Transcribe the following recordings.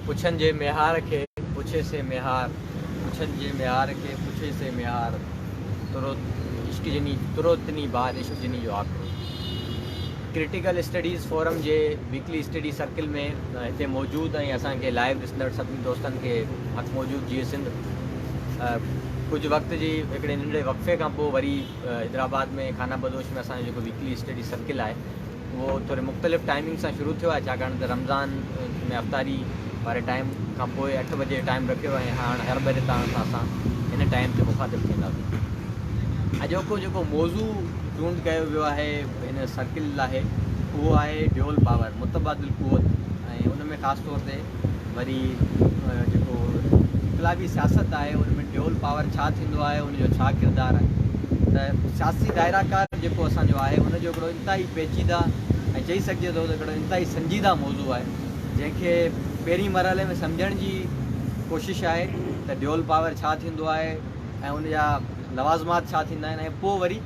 پڇن جي ميهار کي پڇي سي ميهار پڇن جي ميهار کي پڇي سي ميهار ترو عشق جني ترو تني بار عشق جني جو آکرو ڪرٽيڪل اسٽڊيز فورم جي ويڪلي اسٽڊي سرڪل ۾ هتي موجود ۽ اسان کي لائيو ڏسندڙ سڀني دوستن کي حق موجود جيئي سنڌ ڪجهه وقت جي هڪڙي ننڍڙي وقفي کان پوء وري حيدرآباد ۾ خانه بدوش ۾ اسان جو جيڪو ويڪلي اسٽڊي سرڪل آهي اهو ٿوري مختلف ٽائمنگ سان شروع ٿيو آهي ڇاڪاڻ ته رمضان ۾ افطاري واري ٽائيم کان پوء اٺ بجي جو ٽائيم رکيو ويو آهي هاڻ هر ڀيري طرح سان اسان هن ٽائيم تي مخاطب ٿينداسين اڄوڪو جيڪو موضوع چونڊ ڪيو ويو آهي هن سرڪل لاهي اهو آهي ڊيول پاور متبادل قوت ۽ ان ۾ خاص طور تي وري جيڪو انقلابي سياست آهي ان ۾ ڊيول پاور ڇا ٿيندو آهي ان جو ڇا ڪردار آهي ته سياسي دائره ڪار جيڪو اسان جو آهي ان جو هڪڙو انتهائي پيچيده ۽ چئي سگهجي ٿو ته هڪڙو انتهائي سنجيده موضوع آهي جنهن کي پهرين مرحلي ۾ سمجهڻ جي ڪوشش آهي ته ڊيول پاور ڇا ٿيندو آهي ۽ ان جا لوازمات ڇا ٿيندا آهن ۽ پوء وري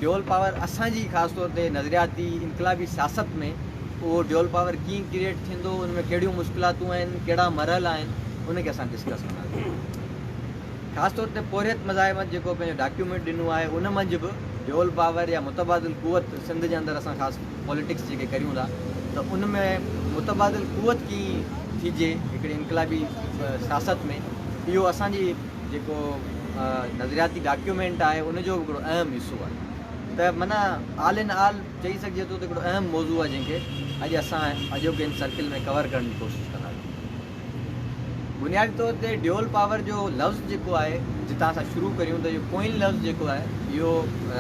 ڊيول پاور اسان جي خاص طور تي نظرياتي انقلابي سياست ۾ اهو ڊيول پاور ڪيئن ڪريئيٽ ٿيندو ان ۾ ڪهڙيون مشڪلاتون آهن ڪهڙا مرحل آهن ان کي اسان ڊسڪس ڪنداسين خاص طور تي پورهيت مزاحمت جيڪو پنهنجو ڊاڪيومينٽ ڏنو آهي ان منجھ به ڊيول پاور يا متبادل قوت سنڌ جي اندر اسان خاص پاليٽڪس جيڪي ڪريون ٿا ته ان ۾ متبادل قوت ڪيئن ٿيجي هڪڙي انقلابي سياست ۾ اهو اسان جي جيڪو نظرياتي ڊاڪيومينٽ آهي ان جو به هڪڙو اهم حصو آهي ته معنيٰ آل ان آل چئي سگهجي ٿو ته هڪڙو اهم موضوع آهي جنهن کي اڄ اسان اڄوڪي ان سرڪل ۾ ڪور ڪرڻ جي ڪوشش ڪنداسين. بنيادي طور تي ڊيول پاور جو لفظ جيڪو آهي جتان اسان شروع ڪريون ته اهو ڪوئن لفظ جيڪو آهي اهو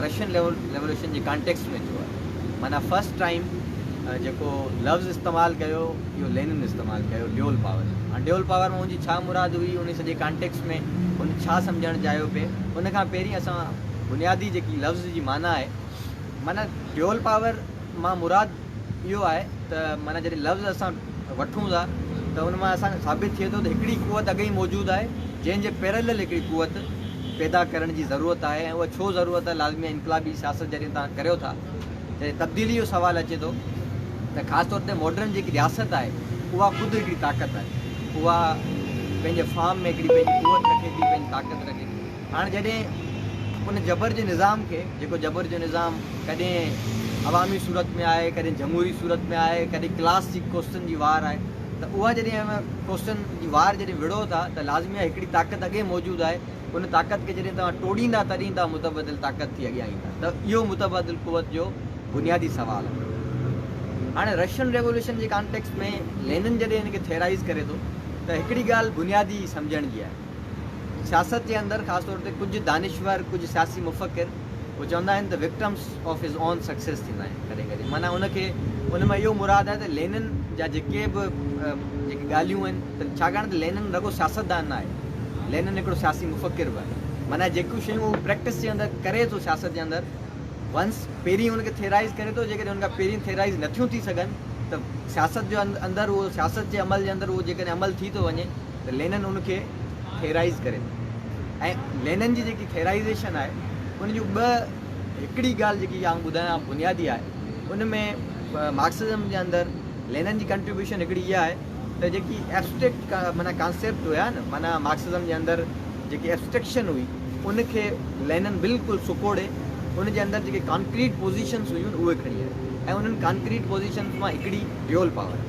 رشين ريولوشن جي ڪانٽيڪسٽ ۾ ٿيو آهي. معنيٰ فرسٽ ٽائيم جيڪو لفظ استعمال ڪيو اهو لينن استعمال ڪيو ڊيول پاور هاڻ ڊيول پاور مان هن جي ڇا مراد هئي ان سڄي ڪانٽيڪس ۾ هن ڇا سمجهڻ چاهيو پئي ان کان پهرين اسان بنيادي جيڪي لفظ جي معنيٰ آهي معنيٰ ڊيول پاور مان مراد اهو آهي ته معنيٰ جڏهن لفظ اسان وٺون ٿا ته ان مان اسان کي ثابت ٿئي ٿو ته هڪڙي قوت اڳ ئي موجود آهي جنهن جي پيرلل هڪڙي قوت پيدا ڪرڻ جي ضرورت آهي ۽ اها ڇو ضرورت آهي لازمي آهي انقلابي سياست جڏهن توهان ڪريو ٿا ته تبديلي جو سوال اچي ٿو ته خاص طور تي ماڊرن جيڪي رياست آهي اها خود هڪڙي طاقت آهي اها پنهنجي فارم ۾ هڪڙي پنهنجي قوت رکي ٿي پنهنجي طاقت رکي ٿي هاڻ جڏهن ان جبر جي نظام کي جيڪو جبر جو نظام ڪڏهن عوامي صورت ۾ آهي ڪڏهن جمهوري صورت ۾ آهي ڪڏهن ڪلاس جي ڪوسٽن جي وار آهي ته اها جڏهن اوهان ڪوسٽن جي وار جڏهن وڙهو ٿا ته لازمي آهي هڪڙي طاقت اڳي موجود آهي ان طاقت کي جڏهن توهان ٽوڙيندا تڏهن توهان متبادل طاقت ٿي اڳيان ايندا ته اهو متبادل قوت جو بنيادي سوال آهي هاڻي رشين ريولوشن جي ڪانٽيڪسٽ ۾ لينن جڏهن ان کي ٿيئرائيز ڪري ٿو ته هڪڙي ڳالهه بنيادي سمجهڻ جي آهي سياست جي اندر خاص طور تي ڪجهه دانشور ڪجهه سياسي مفڪر اهو چوندا آهن ته victims of his own success ٿيندا آهن ڪڏهن ڪڏهن معنيٰ ان کي ان مان اهو مراد آهي ته لينن جا جيڪي به جيڪي ڳالهيون آهن ته ڇاڪاڻ ته لينن رڳو سياستدان نه آهي لينن هڪڙو سياسي مفڪر به آهي معنيٰ جيڪيون شيون هو پريڪٽس جي اندر ڪري ٿو سياست جي اندر ونس پهرين ان کي ٿيرائز ڪري ٿو جيڪڏهن ان کان پهرين ٿيرائز نه ٿيون ٿي سگهن ته سياست جو اندر اهو سياست جي عمل جي اندر اهو جيڪڏهن عمل ٿي ٿو وڃي ته لينن ان کي ٿيرائز ڪري ٿو ۽ لينن جي جيڪي ٿيرائزيشن آهي ان جون ٻه هڪڙي ڳالهه جيڪي آئون ٻڌايان بنيادي آهي ان ۾ مارڪسزم جي اندر لينن جي ڪنٽريبيوشن هڪڙي اها آهي ته جيڪي ايبسٽريڪٽ معنيٰ ڪانسيپٽ هيا نه معنيٰ مارڪسزم جي اندر جيڪي ايبسٽريڪشن هئي ان کي لينن بلڪل سڪوڙي ان جي اندر جيڪي ڪانڪريٽ پوزيشنس هيون اهي کڻي آيو ۽ انهن ڪانڪريٽ پوزيشنس مان هڪڙي ريول پاور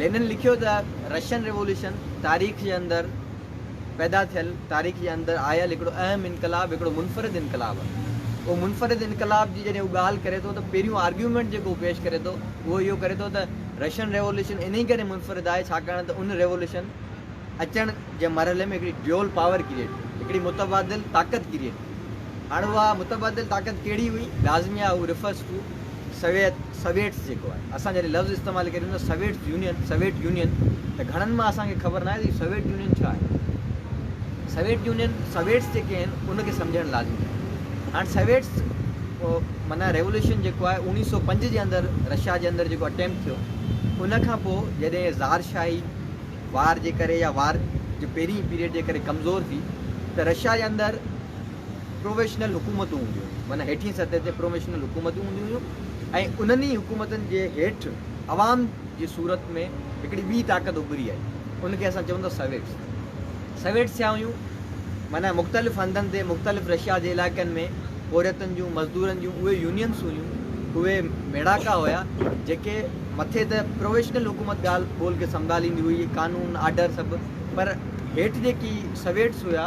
لينن لکيو ته رشين ريوليوشن تاريخ جي اندر پيدا ٿيل تاريخ جي اندر آيل هڪڙو اهم انقلاب هڪڙو منفرد انقلاب آهي اهو منفرد انقلاب جي جڏهن هو ڳالهه ڪري ٿو ته پهريون آرگيومينٽ جيڪو هو پيش ڪري ٿو اهو اهو ڪري ٿو ته رشين ريولوشن انهي ڪري منفرد آهي ڇاڪاڻ ته ان ريولوشن اچڻ جي مرحلي ۾ هڪڙي ڊيول پاور ڪريئيٽ ٿي هڪڙي متبادل طاقت ڪريئيٽ ٿي هاڻ اها متبادل طاقت ڪهڙي هئي لازمي آهي هو ريفرس ٽو سويت، Soviets، جيڪو آهي، اسان جڏهن لفظ استعمال ڪريون ٿا سويٽس يونين، Soviet Union، ته گهڻن مان اسان کي خبر ناهي ته هي سويٽ يونين ڇا آهي؟ سويٽ يونين، Soviets، جيڪي آهن ان کي سمجهڻ لازمي آهي. هاڻ سويٽس معنيٰ ريولوشن جيڪو آهي اوڻيهه سؤ پنج جي اندر رشيا جي اندر جيڪو اٽيمپٽ ٿيو ان کان پوء جڏهن زار شاهي وار جي ڪري يا وار جي پهرين پيريڊ جي ڪري ڪمزور ٿي ته رشيا جي اندر پروويشنل حڪومتون هونديون هيون معنيٰ هيٺين سطح تي پروويشنل حڪومتون هونديون هيون ۽ انهن ئي حڪومتن جي هيٺ عوام جي صورت ۾ هڪڙي ٻي طاقت اڀري آئي ان کي اسان چئون ٿا سويٽس سويٽس ڇا هيون معنيٰ مختلف هنڌن تي مختلف رشيا جي علائقن ۾ پورهيتن جون مزدورن جون اهي يونينس هيون اهي ميڙاڪا هيا جيڪي مٿي ته پروويشنل حڪومت ڳالهه ٻولهه کي سنڀاليندي هئي قانون آرڊر سڀ پر هيٺ جيڪي سويٽس هيا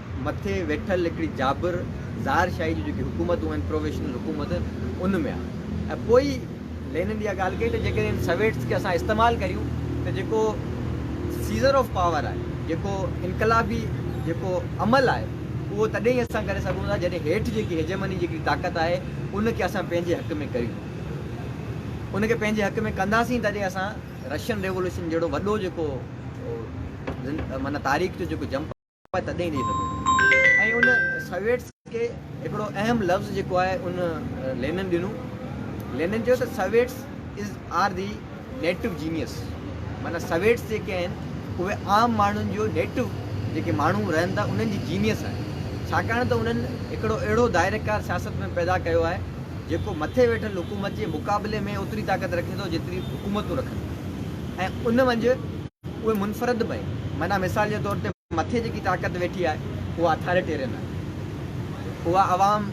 مٿي ويٺل هڪڙي جابر ظاهر شاهي جون جيڪي حڪومتون آهن پروويشنل حڪومت ان ۾ آهي ۽ پوء ئي لينن اها ڳالهه ڪئي ته جيڪڏهن سويٽس کي اسان استعمال ڪريون ته جيڪو سيزر آف پاور آهي جيڪو انقلابي جيڪو عمل آهي اهو تڏهن ئي اسان ڪري سگهون ٿا جڏهن هيٺ جيڪي هيجمني جيڪڙي طاقت آهي ان کي اسان پنهنجي حق ۾ ڪريون ان کي پنهنجي حق ۾ ڪنداسين تڏهن اسان رشين ريولوشن جهڙو وڏو جيڪو معنيٰ تاريخ جو جيڪو جمپ تڏهن ڏئي سگهو ۽ ان سويٽس کي هڪڙو اهم لفظ جيڪو آهي ان لينن ڏنو لينن چيو ته Soviets is are the native genius معنيٰ سويٽس جيڪي آهن اهي عام ماڻهن جو نيٽو جيڪي ماڻهو رهن ٿا انهن جي جينيس آهن ڇاڪاڻ ته انهن هڪڙو اهڙو دائريڪار سياست ۾ پيدا ڪيو آهي جيڪو مٿي ويٺل حڪومت جي مقابلي ۾ اوتري طاقت رکي ٿو جيتري حڪومتون رکن ۽ ان منجهه اهي منفرد به آهن، معنيٰ مثال جي طور تي مٿي جيڪي طاقت ويٺي آهي اها اٿاريٽيرين آهي، اها عوام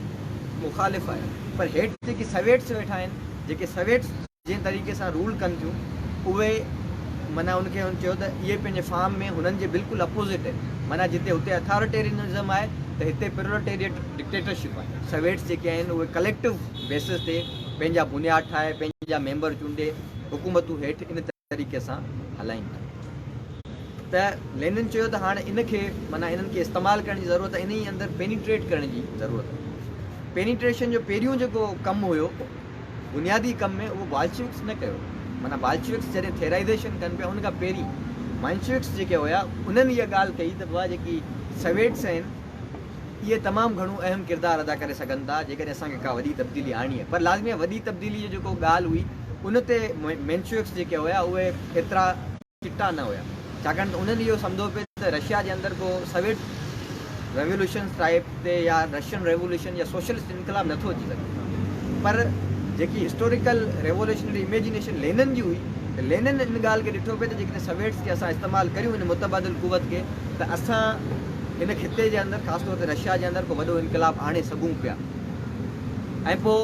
مخالف آهي، پر هيٺ جيڪي سويٽس ويٺا آهن، جيڪي سويٽس جنهن طريقي سان رول ڪن ٿيون، اهي معنيٰ ان کي هن چيو ته اهي پنهنجي فارم ۾ هنن جي بلڪل اپوزٽ آهن، معنيٰ جتي هتي اٿاريٽيرينزم آهي ته هتي پروليٽيريٽ ڊڪٽيٽرشپ آهي، سويٽس جيڪي آهن اهي ڪليڪٽو بيسز تي پنهنجا بنياد ٺاهي، پنهنجا ميمبر چونڊي، حڪومتون هيٺ ان طريقي سان هلائين ٿا ته لينن چيو ته هاڻ ان کي معنيٰ انهن کي استعمال ڪرڻ جي ضرورت آهي انهي اندر پينيٽريٽ ڪرڻ جي ضرورت آهي پينيٽريشن جو پهريون جيڪو ڪم هيو بنيادي ڪم ۾ اهو بالشوڪس نه ڪيو معنيٰ بالشوڪس جڏهن ٿيرائزيشن ڪن پيا ان کان پهرين مائنشوڪس جيڪي هيا انهن اها ڳالهه ڪئي ته بابا جيڪي سويٽس آهن اهي تمام گهڻو اهم ڪردار ادا ڪري سگهن ٿا جيڪڏهن اسان کي ڪا وڏي تبديلي آڻڻي آهي پر لازمي آهي وڏي تبديلي جو جيڪو ڳالهه هئي ان تي مينشويڪس جيڪي هيا اهي ايترا چٽا نه هيا ڇاڪاڻ ته انهن اهو سمجهو پي ته رشيا جي اندر ڪو سويٽ ريوليوشنس ٽائيپ تي يا رشين ريوليوشن يا سوشلسٽ انقلاب نٿو اچي سگهي پر جيڪي هسٽوريڪل ريوليوشنري اميجنيشن لينن جي هئي ته لينن ان ڳالهه کي ڏٺو پي ته جيڪڏهن سويٽس کي اسان استعمال ڪريون ان متبادل قوت کي ته اسان هن خطي جي اندر خاص طور تي رشيا جي اندر ڪو وڏو انقلاب آڻي سگهون پيا ۽ پوء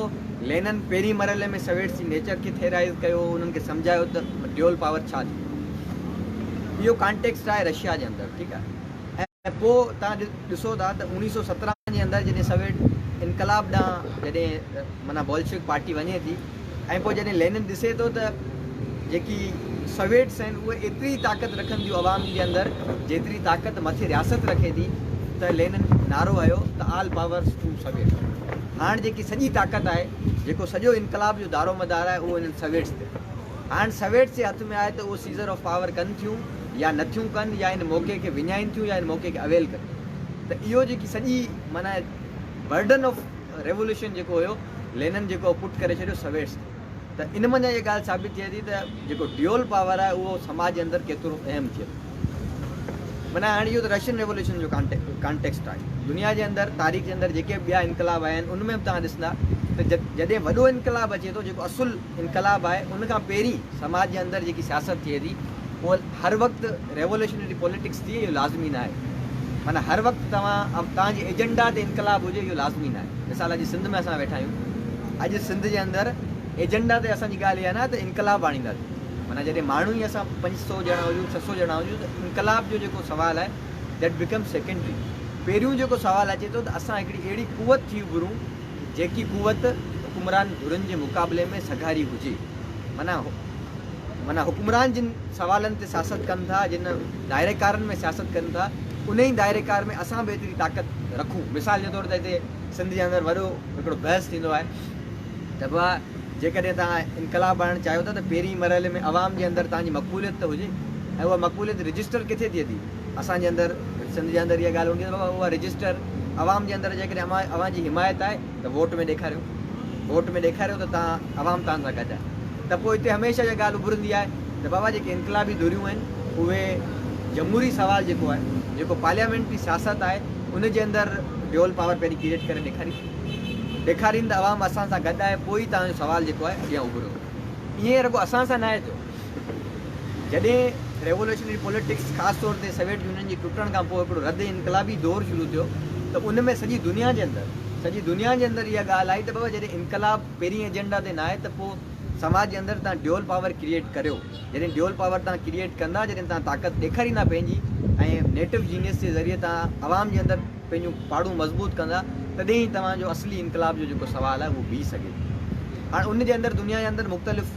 لينن پهرين مرحلي ۾ سويٽس جي نيچر کي ٿيرائز ڪيو انهن کي سمجهايو ته ڊيول پاور ڇا ٿيندو اهو ڪانٽيڪسٽ آهي رشيا جي اندر ٺيڪ آهي ۽ پوء تان ڏسو ٿا ته اوڻيهه سو سترهن جي اندر جڏهن سويٽ انقلاب ڏانهن جڏهن معنيٰ بولشوڪ پارٽي وڃي ٿي ۽ پوء جڏهن لينن ڏسي ٿو ته جيڪي سويٽس آهن اهي ايتري طاقت رکن ٿيون عوام جي اندر جيتري طاقت مٿي رياست رکي ٿي ته لينن نعرو هنيو ته آل پاورس ٽو سويٽس هاڻ جيڪي سڄي طاقت آهي جيڪو سڄو انقلاب جو دارو مدار آهي اهو انهن سويٽس تي هاڻ سويٽس جي هٿ ۾ آهي ته اهو سيزر آف پاور ڪن ٿيون يا نه ٿيون ڪن يا ان موقعي کي وڃائين ٿيون يا ان موقعي کي اويل ڪن ٿيون ته اهو جيڪي سڄي معنيٰ برڊن آف ريولوشن جيڪو هيو لينن جيڪو پٽ ڪري ڇڏيو سويٽس کي ته ان منجهان اهي ڳالهه ثابت ٿئي ٿي ته جيڪو ڊيول پاور آهي اهو سماج جي اندر ڪيترو اهم ٿئي ٿو معنيٰ هاڻي اهو ته رشين ريولوشن جو ڪانٽيڪسٽ آهي دنيا جي اندر تاريخ جي اندر جيڪي به ٻيا انقلاب آيا آهن ان ۾ به توهان ڏسندا ته جڏهن وڏو انقلاب اچي ٿو جيڪو اصل انقلاب آهي ان کان پهرين سماج جي اندر جيڪي سياست ٿئي ٿي اهو هر وقت ريوليشنري پوليٽڪس ٿئي اهو لازمي نه آهي معنيٰ هر وقت توهان توهان جي ايجنڊا تي انقلاب هجي اهو لازمي نه آهي مثال اڄ سنڌ ۾ اسان ويٺا آهيون اڄ سنڌ جي اندر ايجنڊا تي اسان جي ڳالهه اها نه ته انقلاب آڻينداسين معنيٰ جڏهن ماڻهو ئي اسان پنج سو ڄڻا هجون ڇهه سو ڄڻا هجون ته انقلاب جو جيڪو سوال آهي ڊيٽ بيڪم سيڪنڊري پهريون جيڪو سوال اچي ٿو ته اسان هڪڙي اهڙي قوت ٿي اڀرون جيڪي قوت حڪمران ڌرين جي مقابلي ۾ سگهاري هجي، معنيٰ حڪمران جن سوالن تي سياست ڪن ٿا، جن دائري ڪارن ۾ سياست ڪن ٿا، انهي دائري ڪار ۾ اسان به ايتري طاقت رکون. مثال جي طور تي هتي سنڌ جي اندر وڏو هڪڙو بحث ٿيندو آهي ته ڀا جيڪڏهن توهان انقلاب آڻڻ چاهيو ٿا ته پهرين مرحلي ۾ عوام جي اندر توهان جي مقبوليت ته هجي ۽ اها مقبوليت رجسٽر ڪٿي ٿئي ٿي؟ اسان جي اندر سنڌ جي اندر اها ڳالهه هوندي ته اها رجسٽر عوام جي اندر جيڪڏهن اوهان جي حمايت آهي ته ووٽ ۾ ڏيکاريو ووٽ ۾ ڏيکاريو ته تان عوام توهان سان گڏ آهي ته پوء هتي هميشه اها ڳالهه اڀرندي آهي ته بابا جيڪي انقلابي ڌريون آهن اهي جمهوري سوال جيڪو آهي جيڪو پارليامينٽري سياست آهي ان جي اندر ڊيول پاور پهرين ڪريئيٽ ڪري ڏيکارين ڏيکارين ته عوام اسان سان گڏ آهي پوء ئي توهان جو سوال جيڪو آهي اڳيان اڀرندو ائين رڳو اسان سان ناهي ٿيو. جڏهن ريولوشنري پوليٽڪس خاص طور تي سويٽ يونين جي ٽٽڻ کان پوء هڪڙو رد انقلابي دور شروع ٿيو ته ان ۾ سڄي دنيا جي اندر سڄي دنيا جي اندر اها ڳالهه آئي ته بابا جڏهن انقلاب پهرين ايجنڊا تي نه آهي ته پوء سماج جي اندر تهان ڊيول پاور ڪريئيٽ ڪريو جڏهن ڊيول پاور تهان ڪريئيٽ ڪندا جڏهن تهان طاقت ڏيکاريندا پنهنجي ۽ نيٽو جينيس جي ذريعي تهان عوام جي اندر پنهنجون پاڙون مضبوط ڪندا تڏهن ئي توهان جو اصلي انقلاب جو جيڪو سوال آهي اهو بيهي سگهي ٿو هاڻ ان جي اندر دنيا جي اندر مختلف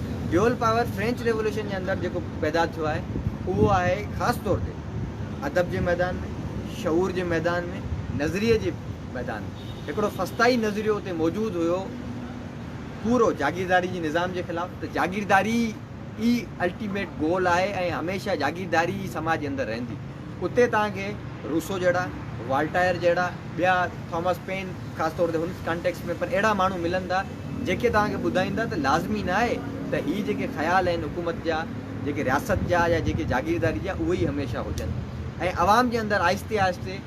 ڊيول پاور فرينچ ريولوشن جي اندر جيڪو پيدا ٿيو آهي اهو آهي خاص طور تي ادب جي ميدان ۾ شعور جي ميدان ۾ نظريي جي ميدان ۾ هڪڙو فسطائي نظريو اتي موجود هيو پورو جاگيرداري جي نظام جي خلاف ته جاگيرداري ئي الٽيميٽ گول آهي ۽ هميشه جاگيرداري ئي سماج جي اندر رهندي اتي توهان کي روسو جهڙا والٽائر جهڙا ٻيا ٿامس پين خاص طور تي هن ڪانٽيڪسٽ ۾ پر اهڙا ماڻهو ملن ٿا جيڪي توهان کي ٻڌائيندا ته لازمي نه آهي ته هي جيڪي خيال آهن حڪومت جا، جيڪي رياست جا يا جيڪي جاگيرداري جا اهي ئي هميشه هجن ۽ عوام جي اندر آهستي آهستي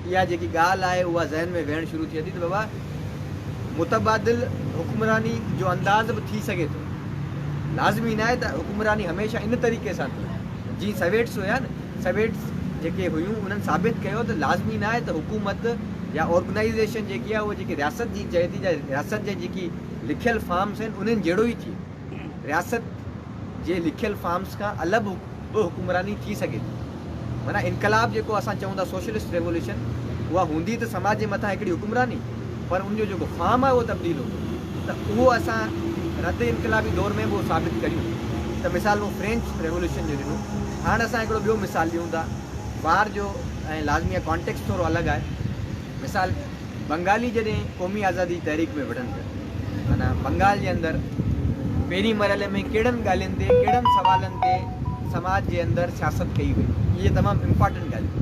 اها جيڪي ڳالهه آهي اها ذهن ۾ ويهڻ شروع ٿئي ٿي ته بابا متبادل حڪمراني جو انداز به ٿي سگهي ٿو لازمي نه آهي ته حڪمراني هميشه ان طريقي سان ٿئي جيئن سويٽس هيا نه سويٽس جيڪي هيون انهن ثابت ڪيو ته لازمي ناهي ته حڪومت يا آرگنائيزيشن جيڪي آهي اهو جيڪي رياست جي چئي ٿي جا رياست جي جيڪي لکيل فارمس آهن انهن جهڙو ئي ٿئي. رياست جي لکيل فارمس کان الڳ به حڪمراني ٿي سگهي ٿي. معنيٰ انقلاب جيڪو اسان چئون ٿا سوشلسٽ ريولوشن اها هوندي ته سماج جي مٿان هڪڙي حڪمراني. پر ان جو جيڪو فارم آهي اهو تبديل هوندو ته اهو اسان رد انقلابي دور ۾ به اهو ثابت ڪريون ته مثال مون فرينچ ريوليوشن جو ڏنو هاڻ اسان هڪڙو ٻيو مثال ڏيون ٿا ٻار جو ۽ لازمي آهي ڪانٽيڪسٽ ٿورو الڳ آهي مثال بنگالي جڏهن قومي آزادي جي تحريڪ ۾ وڙهن ٿا معنيٰ بنگال جي اندر پهرين مرحلي ۾ ڪهڙن ڳالهين تي ڪهڙن سوالن تي سماج جي اندر سياست ڪئي وئي اهي تمام امپارٽنٽ ڳالهيون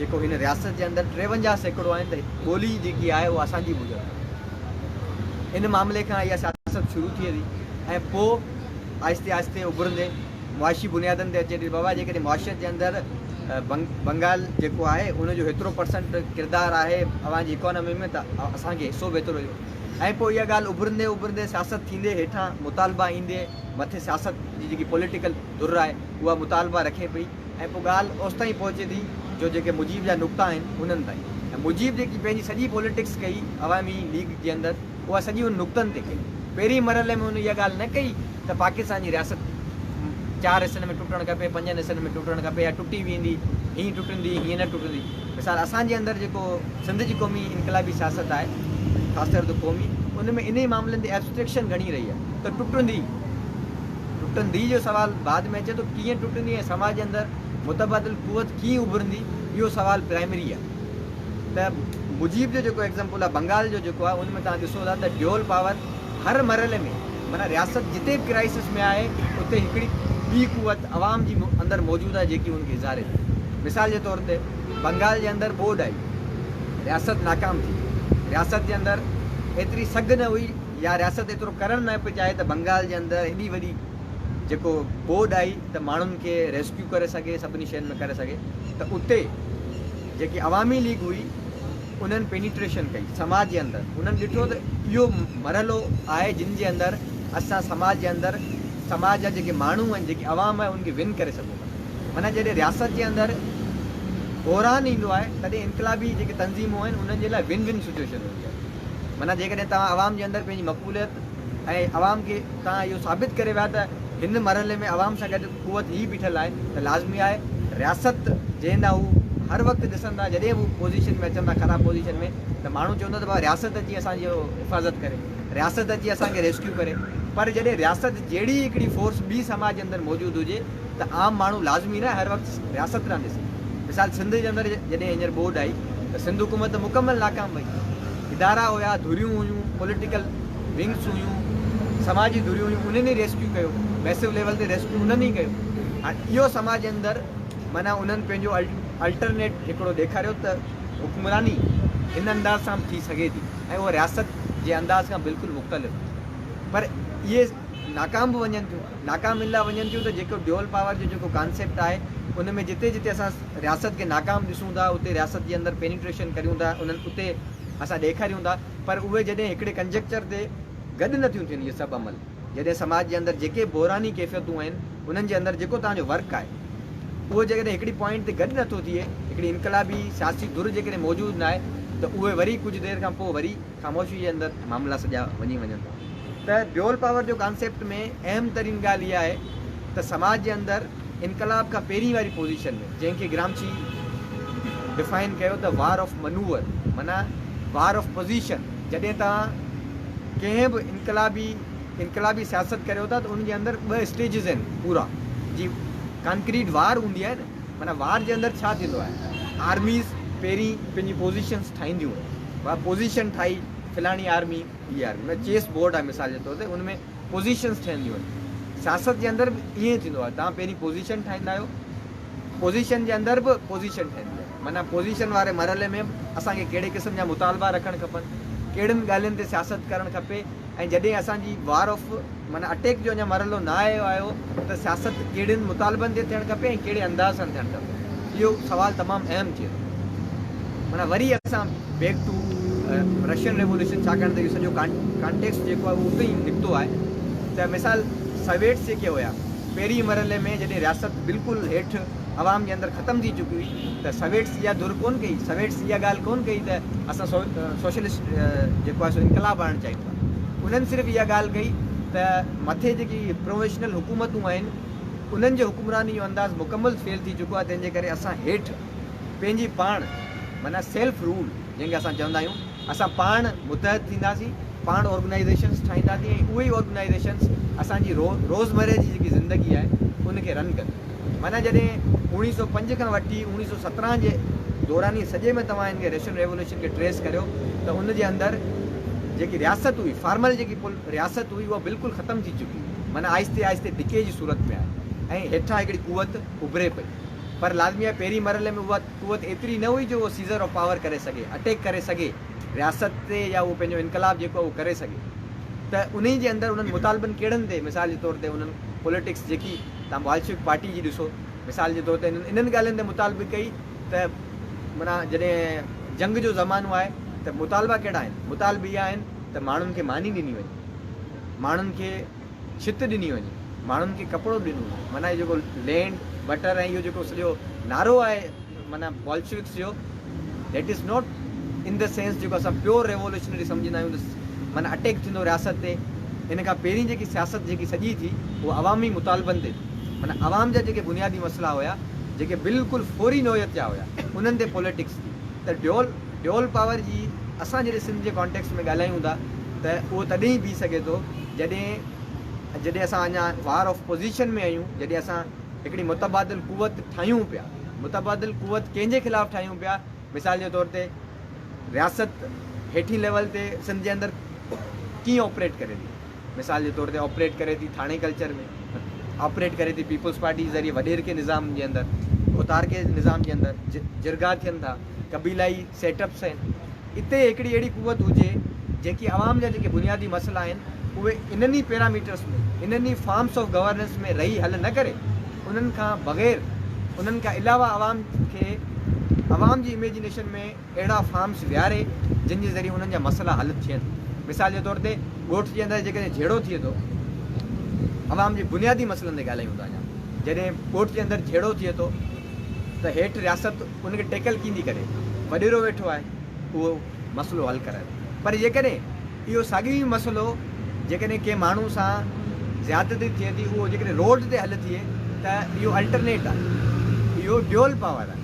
جيڪو هن رياست جي اندر ٽيونجاهه سيڪڙو آهن ته ٻولي جيڪي آهي اها اسان جي موجب آهي ان معاملي کان اها سياست شروع ٿئي ٿي ۽ پوء آهستي آهستي اڀرندي معاشي بنيادن تي اچي ٿي بابا جيڪڏهن معاشيت جي اندر بنگال جيڪو آهي ان جو هيترو پرسنٽ ڪردار آهي اوهان جي اڪانامي ۾ ته اسان کي حصو به هيترو ڏيو ۽ پوء اها ڳالهه اڀرندي اڀرندي سياست ٿيندي هيٺان مطالبا ايندي مٿي سياست جي جيڪي پوليٽيڪل ڌر آهي اها مطالبا رکي پئي ۽ پوء ڳالهه اوستائين پهچي ٿي جو جيڪي مجيب جا نقطا آهن انهن تائين ۽ مجيب جيڪي پنهنجي سڄي پوليٽڪس ڪئي عوامي ليگ جي اندر اها سڄي ان نقطن تي ڪئي پهرين مرحلي ۾ هن اها ڳالهه نه ڪئي ته پاڪستان جي رياست چار حصن ۾ ٽٽڻ کپي پنجن حصن ۾ ٽٽڻ کپي يا ٽٽي ويندي هينئن ٽٽندي هينئن نه ٽٽندي مثال اسان جي اندر جيڪو سنڌ جي قومي انقلابي سياست آهي خاص طور تي قومي ان ۾ انهي معاملن تي ايبسٽريڪشن گهڻي رهي آهي ته ٽٽندي ٽٽندي جو سوال بعد ۾ اچي ٿو، ڪيئن ٽٽندي ۽ سماج اندر متبادل قوت ڪيئن اڀرندي اهو سوال پرائمري آهي ته مجيب جو جيڪو ايگزامپل آهي بنگال جو جيڪو آهي ان ۾ توهان ڏسو ٿا ته ڊيول پاور هر مرحلي ۾ معنيٰ رياست جتي به ڪرائسس ۾ آهي اتي هڪڙي ٻي قوت عوام جي اندر موجود آهي جيڪي ان کي اظهاري ٿي مثال جي طور تي بنگال جي اندر ٻوڏ آئي رياست ناڪام ٿي رياست جي اندر ايتري سگهه نه هئي يا رياست ايترو ڪرڻ نه پئي چاهي ته بنگال جي اندر ايڏي وڏي جيڪو ٻوڏ آئي ته ماڻهن کي ريسڪيو ڪري سگهي سڀني شين ۾ ڪري سگهي ته اتي جيڪي عوامي ليگ هئي انهن پينيٽريشن ڪئي سماج جي اندر انهن ڏٺو ته اهو مرحلو آهي جن جي اندر اسان سماج جي اندر سماج جا جيڪي ماڻهو آهن جيڪي عوام آهي ان کي ون ڪري سگهون ٿا معنيٰ جڏهن رياست جي اندر بحران ايندو آهي تڏهن انقلابي جيڪي تنظيمون آهن انهن جي لاء ون ون سچويشن هوندي آهي. معنيٰ جيڪڏهن توهان عوام جي اندر پنهنجي مقبوليت ۽ عوام کي توهان اهو ثابت ڪري ويا ته هن مرحلي ۾ عوام سان گڏ قوت هي بيٺل آهي ته لازمي آهي رياست جنهن ڏانهن هو هر وقت ڏسن ٿا جڏهن به هو پوزيشن ۾ اچن ٿا خراب پوزيشن ۾ ته ماڻهو چوندو ته ڀاء رياست اچي اسان جي حفاظت ڪري رياست اچي اسان کي ريسڪيو ڪري پر جڏهن رياست جهڙي هڪڙي فورس ٻي سماج جي اندر موجود هجي ته عام ماڻهو لازمي نه هر وقت رياست رهندي سگهي. مثال سنڌ جي اندر جڏهن هينئر ٻوڏ آئي ته سنڌ حڪومت مڪمل ناڪام وئي. ادارا هيا، ڌريون هيون، پوليٽيڪل ونگز هيون، سماجي ڌريون هيون انهن ئي ريسڪيو ڪيو. ميسو ليول تي ريسڪيو انهن ئي ڪيو. هاڻ اهو سماج جي اندر معنيٰ انهن پنهنجو الٽرنيٽ هڪڙو ڏيکاريو ته حڪمراني هن انداز سان به ٿي سگهي ٿي ۽ اهو رياست جي انداز کان بلڪل مختلف پر اهي ناڪام به وڃن ٿيون ناڪام ان لاء وڃن ٿيون ته جيڪو ڊيول پاور جو جيڪو ڪانسيپٽ آهي ان ۾ جتي جتي اسان رياست کي ناڪام ڏسون ٿا اتي رياست جي اندر پينيٽريشن ڪريون ٿا انهن اتي اسان ڏيکاريون ٿا پر اهي جڏهن هڪڙي ڪنجيڪچر تي گڏ نه ٿيون ٿين اهي سڀ عمل جڏهن سماج جي اندر جيڪي به بحراني ڪيفيتون آهن انهن جي اندر جيڪو توهان جو ورڪ آهي اهو جيڪڏهن هڪڙي پوائنٽ تي گڏ نٿو ٿئي هڪڙي انقلابي سياسي ڌر جيڪڏهن موجود ناهي ته اهي وري ڪجهه دير کان پوء وري خاموشي جي اندر معاملا سڄا وڃي وڃن ٿا ته ڊيول پاور جو ڪانسيپٽ ۾ اهم ترين ڳالهه اها آهي ته سماج جي اندر انقلاب کان پهرين واري پوزيشن ۾ جنهن کي گرامشي ڊفائن ڪيو ته وار آف منوور معنيٰ وار آف پوزيشن جڏهن توهان ڪنهن به انقلابي انقلابي سياست ڪريو ٿا ته ان جي اندر ٻه اسٽيجز آهن پورا جي ڪانڪريٽ وار هوندي آهي نه معنيٰ وار جي اندر ڇا ٿيندو آهي آرميز پهرين پنهنجي پوزيشنس ٺاهينديون وار پوزيشن ٺاهي فلاڻي آرمي هي آرمي معنيٰ چيس بورڊ آهي مثال جي طور تي ان ۾ پوزيشنس ٺهنديون آهن سياست جي اندر به ائين ٿيندو آهي تان پهرين پوزيشن ٺاهيندا آهيو پوزيشن جي اندر به پوزيشن ٺهندي آهي معنيٰ پوزيشن واري مرحلي ۾ به اسان کي ڪهڙي قسم جا مطالبا رکڻ کپن ڪهڙين ڳالهين تي سياست ڪرڻ کپي ۽ جڏهن اسان جي وار آف معنيٰ اٽيڪ جو اڃا مرحلو نه آهي آيو ته سياست ڪهڙين مطالبن تي ٿيڻ کپي ۽ ڪهڙي انداز سان ٿيڻ کپي اهو سوال تمام اهم ٿئي ٿو معنيٰ وري اسان بيڪ ٽو رشين ريولوشن ڇاڪاڻ ته اهو سڄو ڪانٽيڪسٽ جيڪو آهي اهو اتي ئي نڪتو آهي ته مثال سويٽس جيڪي هيا پهرين مرحلي ۾ جڏهن رياست بلڪل هيٺ عوام جي اندر ختم ٿي چڪي هئي ته سويٽس اها ڌر ڪونه ڪئي سويٽس اها ڳالهه ڪونه ڪئي ته اسان سوشلسٽ جيڪو آهي سو انقلاب آڻڻ چاهيون ٿا انهن صرف اها ڳالهه ڪئي ته مٿي جيڪي پروفيشنل حڪومتون آهن انهن جي حڪمراني جو انداز مڪمل فيل ٿي چڪو آهي تنهن جي ڪري اسان هيٺ پنهنجي پاڻ معنيٰ سيلف رول جنهن کي اسان چوندا آهيون اسان پاڻ متحد ٿينداسين، پاڻ آرگنائيزيشنز ٺاهينداسين ۽ اهي ئي آرگنائيزيشنز اسان جي رو روزمره جي جيڪي زندگي آهي ان کي رن ڪنديون. معنيٰ جڏهن اوڻيهه سؤ پنج کان وٺي اوڻيهه سؤ سترهن جي دوراني سڄي ۾ توهان هن کي رشين ريولوشن کي ٽريس ڪريو ته ان جي اندر جيڪي رياست هئي فارمل جيڪي پل رياست هئي اها بلڪل ختم ٿي چڪي هئي معنيٰ آهستي آهستي ڊڪي جي صورت ۾ آهي ۽ هيٺان هڪڙي قوت اڀري پئي پر لازمي آهي پهرين مرحلي ۾ اها قوت ايتري نه هئي جو اهو سيزر آف پاور ڪري سگهي، اٽيڪ ڪري سگهي رياست تي يا اهو پنهنجو انقلاب جيڪو آهي اهو ڪري سگهي ته انهي جي اندر انهن مطالبن ڪهڙن تي مثال جي طور تي انهن پوليٽڪس جيڪي توهان بالشوڪ پارٽي جي ڏسو مثال جي طور تي انهن انهن ڳالهين تي مطالبي ڪئي ته معنيٰ جڏهن جنگ جو زمانو آهي ته مطالبا ڪهڙا آهن مطالبي اهي آهن ته ماڻهن کي ماني ڏني وڃي ماڻهن کي ڇت ڏني وڃي، ماڻهن کي ڪپڙو ڏنو وڃي، معنيٰ هي جيڪو لينڊ بٽر ۽ اهو جيڪو سڄو نعرو آهي معنيٰ بولشوڪس جو that is not in the sense جيڪو اسان پيور ريولوشنري سمجهندا آهيون ته معنيٰ اٽيڪ ٿيندو رياست تي ان کان پهرين جيڪي سياست جيڪي سڄي ٿي اها عوامي مطالبن تي ٿي معنيٰ عوام جا جيڪي بنيادي مسئلا هيا جيڪي بلڪل فوري نوعيت جا هيا انهن تي پوليٽڪس ٿي ته ڊيول ڊيول پاور جي اسان جڏهن سنڌ جي ڪانٽيڪسٽ ۾ ڳالهايون ٿا ته اهو تڏهن ئي بيهي سگهي ٿو جڏهن جڏهن اسان اڃا وار آف پوزيشن ۾ آهيون جڏهن اسان هڪڙي متبادل قوت ٺاهيون پيا متبادل قوت ڪنهن جي خلاف ٺاهيون پيا مثال جي طور تي رياست هيٺين ليول تي سنڌ جي اندر ڪيئن آپريٽ ڪري ٿي. مثال جي طور تي آپريٽ ڪري ٿي ٿاڻي ڪلچر ۾ آپريٽ ڪري ٿي پيپلز پارٽي ذريعي وڏيرڪي نظام جي اندر اوتارڪي نظام جي اندر جرڳا ٿين ٿا قبيلائي سيٽ اپس آهن اتي هڪڙي اهڙي قوت هجي جيڪي عوام جا جيڪي بنيادي مسئلا آهن اهي انهن ئي پيراميٽرس ۾ انهن ئي فارمس آف گورننس ۾ رهي حل نه ڪري انهن کان بغير انهن کان علاوه عوام کي عوام جي اميجنيشن ۾ اهڙا فارمز ويهاري جن جي ذريعي انهن جا مسئلا حل ٿين. مثال جي طور تي ڳوٺ جي اندر جيڪڏهن جهيڙو ٿئي ٿو، عوام جي بنيادي مسئلن تي ڳالهايون ٿا اڃا جڏهن ڳوٺ جي اندر جهيڙو ٿئي ٿو ته هيٺ رياست ان کي ٽيڪل ڪيندي ڪري وڏيرو ويٺو آهي اهو مسئلو حل ڪرائي پر جيڪڏهن اهو ساڳيو ئي مسئلو جيڪڏهن ڪنهن ماڻهو سان زيادتي ٿئي ٿي اهو جيڪڏهن روڊ تي حل ٿئي ته اهو الٽرنيٽ آهي اهو ڊيول پاور آهي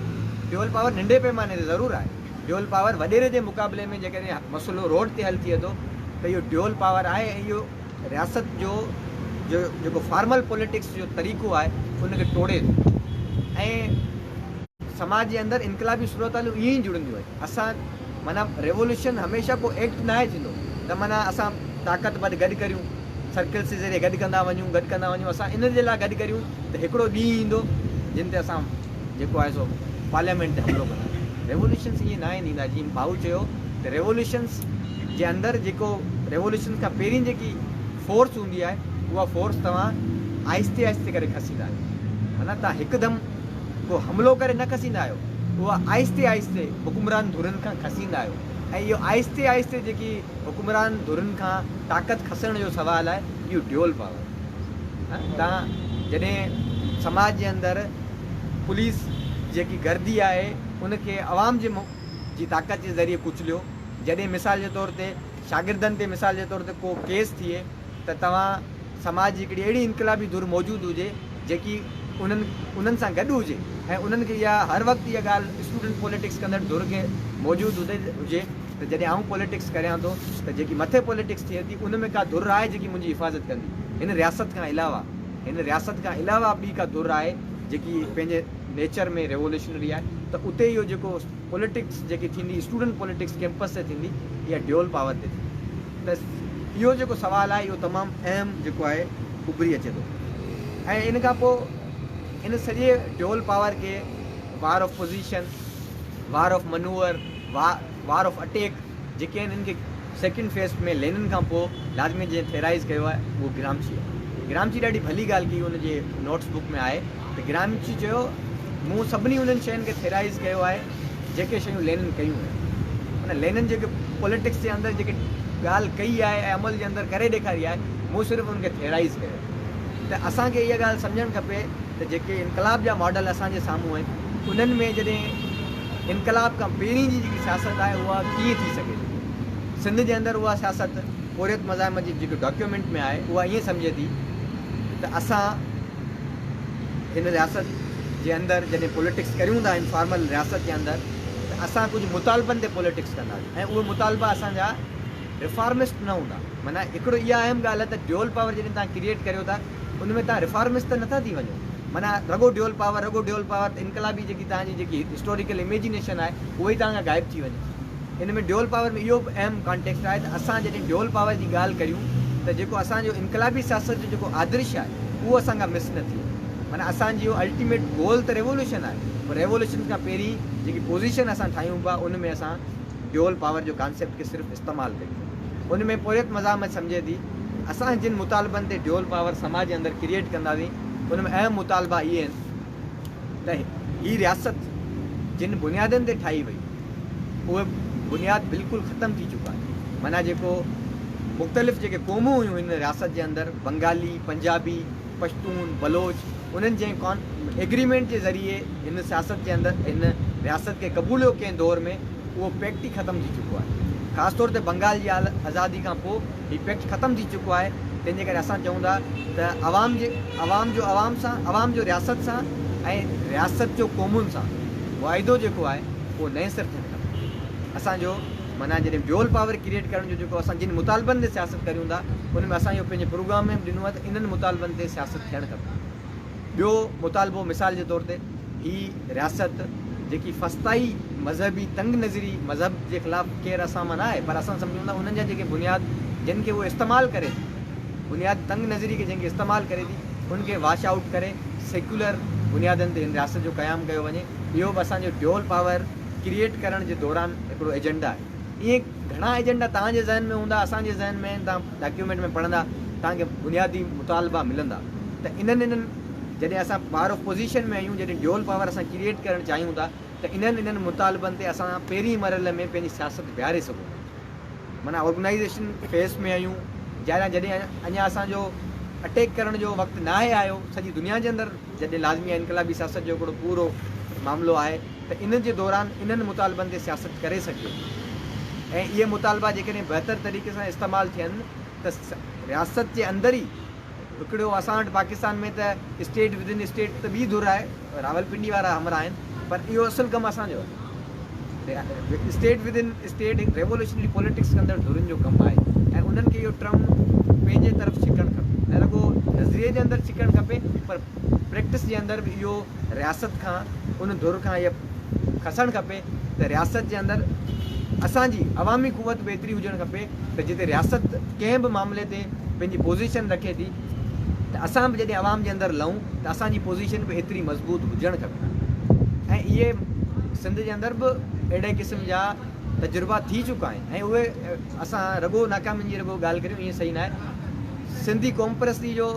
ڊيول پاور ننڍي پيماني تي ضرور آهي ڊيول پاور وڏيري جي مقابلي ۾ جيڪڏهن مسئلو روڊ تي حل ٿئي ٿو ته اهو ڊيول پاور آهي ۽ اهو رياست جو جو جيڪو فارمل پوليٽڪس جو طريقو آهي ان کي ٽوڙي ٿو ۽ سماج جي اندر انقلابي صورتحالون ائين ئي جڙنديون آهن. اسان معنيٰ ريولوشن هميشه ڪو ايڪٽ ناهي ٿيندو ته معنيٰ اسان طاقت ور گڏ ڪريون سرڪلس جي ذريعي گڏ ڪندا وڃون گڏ ڪندا وڃون اسان ان جي لاء گڏ ڪريون ته هڪڙو ڏينهن ايندو جنهن تي اسان جيڪو آهي سو پارليامينٽ تي حملو ڪندا ريولوشنس ائين ناهن ٿيندا جيئن ڀائو چيو ته ريولوشنس جي اندر جيڪو ريولوشن کان پهرين جيڪي فورس هوندي آهي اها فورس توهان آهستي آهستي ڪري کسيندا آهيو معنيٰ تان هڪدم ڪو حملو ڪري نه کسيندا آهيو، اهو آهستي آهستي حڪمران ڌرين کان کسيندا آهيو ۽ اهو آهستي آهستي جيڪي حڪمران ڌرين کان طاقت کسڻ جو سوال آهي اهو ڊيول پاور آهي تان جڏهن سماج جي اندر پوليس جيڪي گردي آهي ان کي عوام جي جي طاقت جي ذريعي ڪچليو جڏهن مثال جي طور تي شاگردن تي مثال جي طور تي ڪو ڪيس ٿئي ته توهان سماج جي هڪڙي اهڙي انقلابي ڌر موجود هجي جيڪي انهن انهن سان گڏ هجي ۽ انهن کي اها هر وقت اها ڳالهه اسٽوڊنٽ پوليٽڪس ڪندڙ ڌر کي موجود هجي هجي ته جڏهن آئون پوليٽڪس ڪريان ٿو ته جيڪي مٿي پوليٽڪس ٿئي ٿي ان ۾ ڪا ڌر آهي جيڪي منهنجي حفاظت ڪندي هن رياست کان علاوه هن رياست کان علاوه ٻي ڪا ڌر آهي جيڪي پنهنجي نيچر ۾ ريولوشنري آهي ته اتي اهو جيڪو پوليٽڪس جيڪي ٿيندي اسٽوڊنٽ پوليٽڪس ڪيمپس تي ٿيندي يا ڊيول پاور تي ٿيندي ته اهو جيڪو سوال آهي اهو تمام اهم جيڪو آهي اڀري اچي ٿو ۽ ان کان پوء ان سڄي ڊيول پاور کي war of position war of maneuver war of attack جيڪي آهن ان کي سيڪنڊ فيس ۾ لينن کان پوء لازمي جنهن ٿيرائز ڪيو آهي اهو گرامشي گرامشي ڏاڍي ڀلي ڳالهه ڪئي ان جي نوٽس بڪ ۾ آهي ته گرامشي چيو، مون سڀني انهن شين کي ٿيرائيز ڪيو آهي، جيڪي شيون لينن ڪيون هيون. ان لينن جيڪي پوليٽڪس جي اندر جيڪي ڳالهه ڪئي آهي ۽ عمل جي اندر ڪري ڏيکاري آهي، مون صرف ان کي ٿيرائيز ڪيو آهي. ته اسان کي اها ڳالهه سمجهڻ کپي ته جيڪي انقلاب جا ماڊل اسان جي سامهون آهن، انهن ۾ جڏهن انقلاب کان پهرين جي جيڪي سياست آهي، اها ڪيئن ٿي سگهي ٿي. سنڌ جي اندر اها سياست پورهيت مزاحمت جي جيڪي ڊاڪيومينٽ ۾ آهي، اها ائين سمجهي ٿي ته اسان، هن رياست جي اندر جڏهن پوليٽڪس ڪريون ٿا انفارمل رياست جي اندر ته اسان ڪجهه مطالبن تي پوليٽڪس ڪنداسين ۽ اهي مطالبا اسان جا رفارمسٽ نه هوندا معنيٰ هڪڙو اها اهم ڳالهه آهي ته ڊيول پاور جڏهن تهان ڪريئيٽ ڪريو ٿا ان ۾ تهان رفارمسٽ ته نٿا ٿي وڃو معنيٰ رڳو ڊيول پاور رڳو ڊيول پاور ته انقلابي جيڪي تهان جي جيڪي هسٽوريڪل اميجنيشن آهي اهي تهان کان غائب ٿي وڃي. ان ۾ ڊيول پاور ۾ اهو به اهم ڪانٽيڪسٽ آهي ته اسان جڏهن ڊيول پاور جي ڳالهه ڪريون ته جيڪو اسان جو انقلابي سياست جو جيڪو آدرش آهي اهو اسان کان مس نه ٿئي معنيٰ اسان جي اهو الٽيميٽ گول ته ريولوشن آهي پر ريولوشن کان پهرين جيڪي پوزيشن اسان ٺاهيون پيا ان ۾ اسان ڊيول پاور جو ڪانسيپٽ کي صرف استعمال ڪريون پيا ان ۾ پورهيت مزاحمت سمجهي ٿي اسان جن مطالبن تي ڊيول پاور سماج جي اندر ڪريئيٽ ڪنداسين ان ۾ اهم مطالبا اهي آهن. ته هي رياست جن بنيادن تي ٺاهي وئي اهي بنياد بلڪل ختم ٿي چڪا آهن معنيٰ جيڪو مختلف جيڪي قومون هيون هن رياست جي اندر بنگالي، پنجابي، پشتون، بلوچ انهن جنهن ڪان ايگريمينٽ جي ذريعي هن سياست جي اندر هن رياست کي قبوليو ڪنهن دور ۾ اهو پيڪٽ ئي ختم ٿي چڪو آهي خاص طور تي بنگال جي آزادي کان پوء هي پيڪٽ ختم ٿي چڪو آهي تنهن جي ڪري اسان چئون ٿا ته عوام جي عوام جو عوام سان عوام جو رياست سان ۽ رياست جو قومن سان واعدو جيڪو آهي اهو نئين سر ٿيڻ کپي اسان جو معنيٰ جڏهن ڊيول پاور ڪريئيٽ ڪرڻ جو جيڪو اسان جن مطالبن تي سياست ڪريون ٿا ان ۾ اسان اهو پنهنجي پروگرام ۾ به ڏنو آهي ته انهن مطالبن تي سياست ٿيڻ کپي. ٻيو مطالبو مثال جي طور تي هي رياست جيڪي فسطائي مذهبي تنگ نظري مذهب جي خلاف ڪير اسان مان نه آهي پر اسان سمجهون ٿا انهن جا جيڪي بنياد جن کي هو استعمال ڪري ٿي بنياد تنگ نظري کي جن کي استعمال ڪري ٿي ان کي واش آئوٽ ڪري سيڪيولر بنيادن تي هن رياست جو قيام ڪيو وڃي اهو به اسان جو ڊيول پاور ڪريئيٽ ڪرڻ جي دوران هڪڙو ايجنڊا آهي. اهي گهڻا ايجنڊا توهان جي ذهن ۾ هوندا، اسان جي ذهن ۾ آهن، توهان ڊاڪيومينٽ ۾ پڙهندا، توهان کي بنيادي مطالبا ملندا ته انهن انهن جڏهن اسان پاور آف پوزيشن ۾ آهيون، جڏهن ڊيول پاور اسان ڪريئيٽ ڪرڻ چاهيون ٿا ته انهن انهن مطالبن تي اسان پهرين مرحلي ۾ پنهنجي سياست بيهاري سگهون ٿا. معنيٰ آرگنائيزيشن فيز ۾ آهيون، جڏهن اڃا اسان جو اٽيڪ ڪرڻ جو وقت ناهي آيو، سڄي دنيا جي اندر، جڏهن لازمي انقلابي سياست جو هڪڙو پورو معاملو آهي ته ان جي دوران انهن مطالبن تي سياست ڪري سگهجي ٿي ۽ اهي مطالبا جيڪڏهن بهتر طريقي سان استعمال ٿين ته رياست جي اندر ئي هڪڙو اسان وٽ پاڪستان ۾ ته اسٽيٽ وڌن اسٽيٽ ته ٻي ڌر آهي راولپنڊي وارا همراهه آهن پر اهو اصل ڪم اسان جو آهي. اسٽيٽ ود ان اسٽيٽ هڪ ريوولوشنري پوليٽڪس ڪندڙ ڌرين جو ڪم آهي ۽ انهن کي اهو ٽرم پنهنجي طرف ڇڪڻ کپي نه رڳو نظريي جي اندر ڇڪڻ کپي پر پريڪٽس جي اندر به اهو رياست کان ان ڌر کان اهي کسڻ کپي ته رياست جي اندر اسان جي عوامي قوت به ايتري هجڻ کپي ته جتي رياست ڪنهن به معاملي تي پنهنجي پوزيشن رکي ٿي ته اسان به جڏهن عوام جي اندر لهون ته اسان جي پوزيشن به ايتري مضبوط هجڻ کپي ۽ اهي سنڌ جي اندر به اهڙي قسم جا تجربا ٿي چڪا آهن ۽ اهي اسان رڳو ناڪامين جي رڳو ڳالهه ڪريون ائين صحيح ناهي سنڌي قوم پرستي جو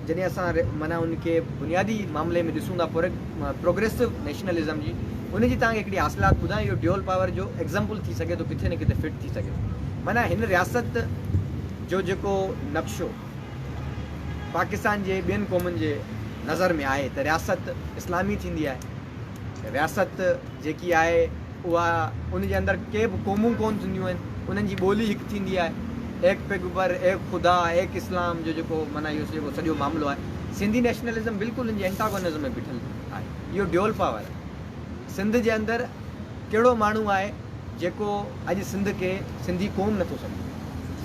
جڏهن اسان معنيٰ ان کي بنيادي معاملي ۾ ڏسون ٿا پروگريسو نيشنلزم جي ان جي تان هڪڙي حاصلات ٻڌان اهو ڊيول پاور جو ايگزامپل ٿي سگهي ٿو ڪٿي نه ڪٿي فٽ ٿي سگهي ٿو معنيٰ هن رياست جو جيڪو نقشو پاڪستان جي ٻين قومن جي نظر ۾ آهي ته رياست اسلامي ٿيندي آهي رياست جيڪي آهي اها ان جي اندر ڪي به قومون ڪون ٿينديون آهن انهن جي ٻولي هڪ ٿيندي آهي ايڪ پيغبر ايڪ خدا ايڪ اسلام جو جيڪو مانا اهو جيڪو سڄو معاملو آهي سنڌي نيشنلزم بلڪل ان جي انٽاگونزم ۾ بيٺل آهي اهو ڊيول پاور سنڌ جي اندر ڪهڙو ماڻهو آهي جيڪو اڄ سنڌ کي سنڌي قوم نٿو سمجهي.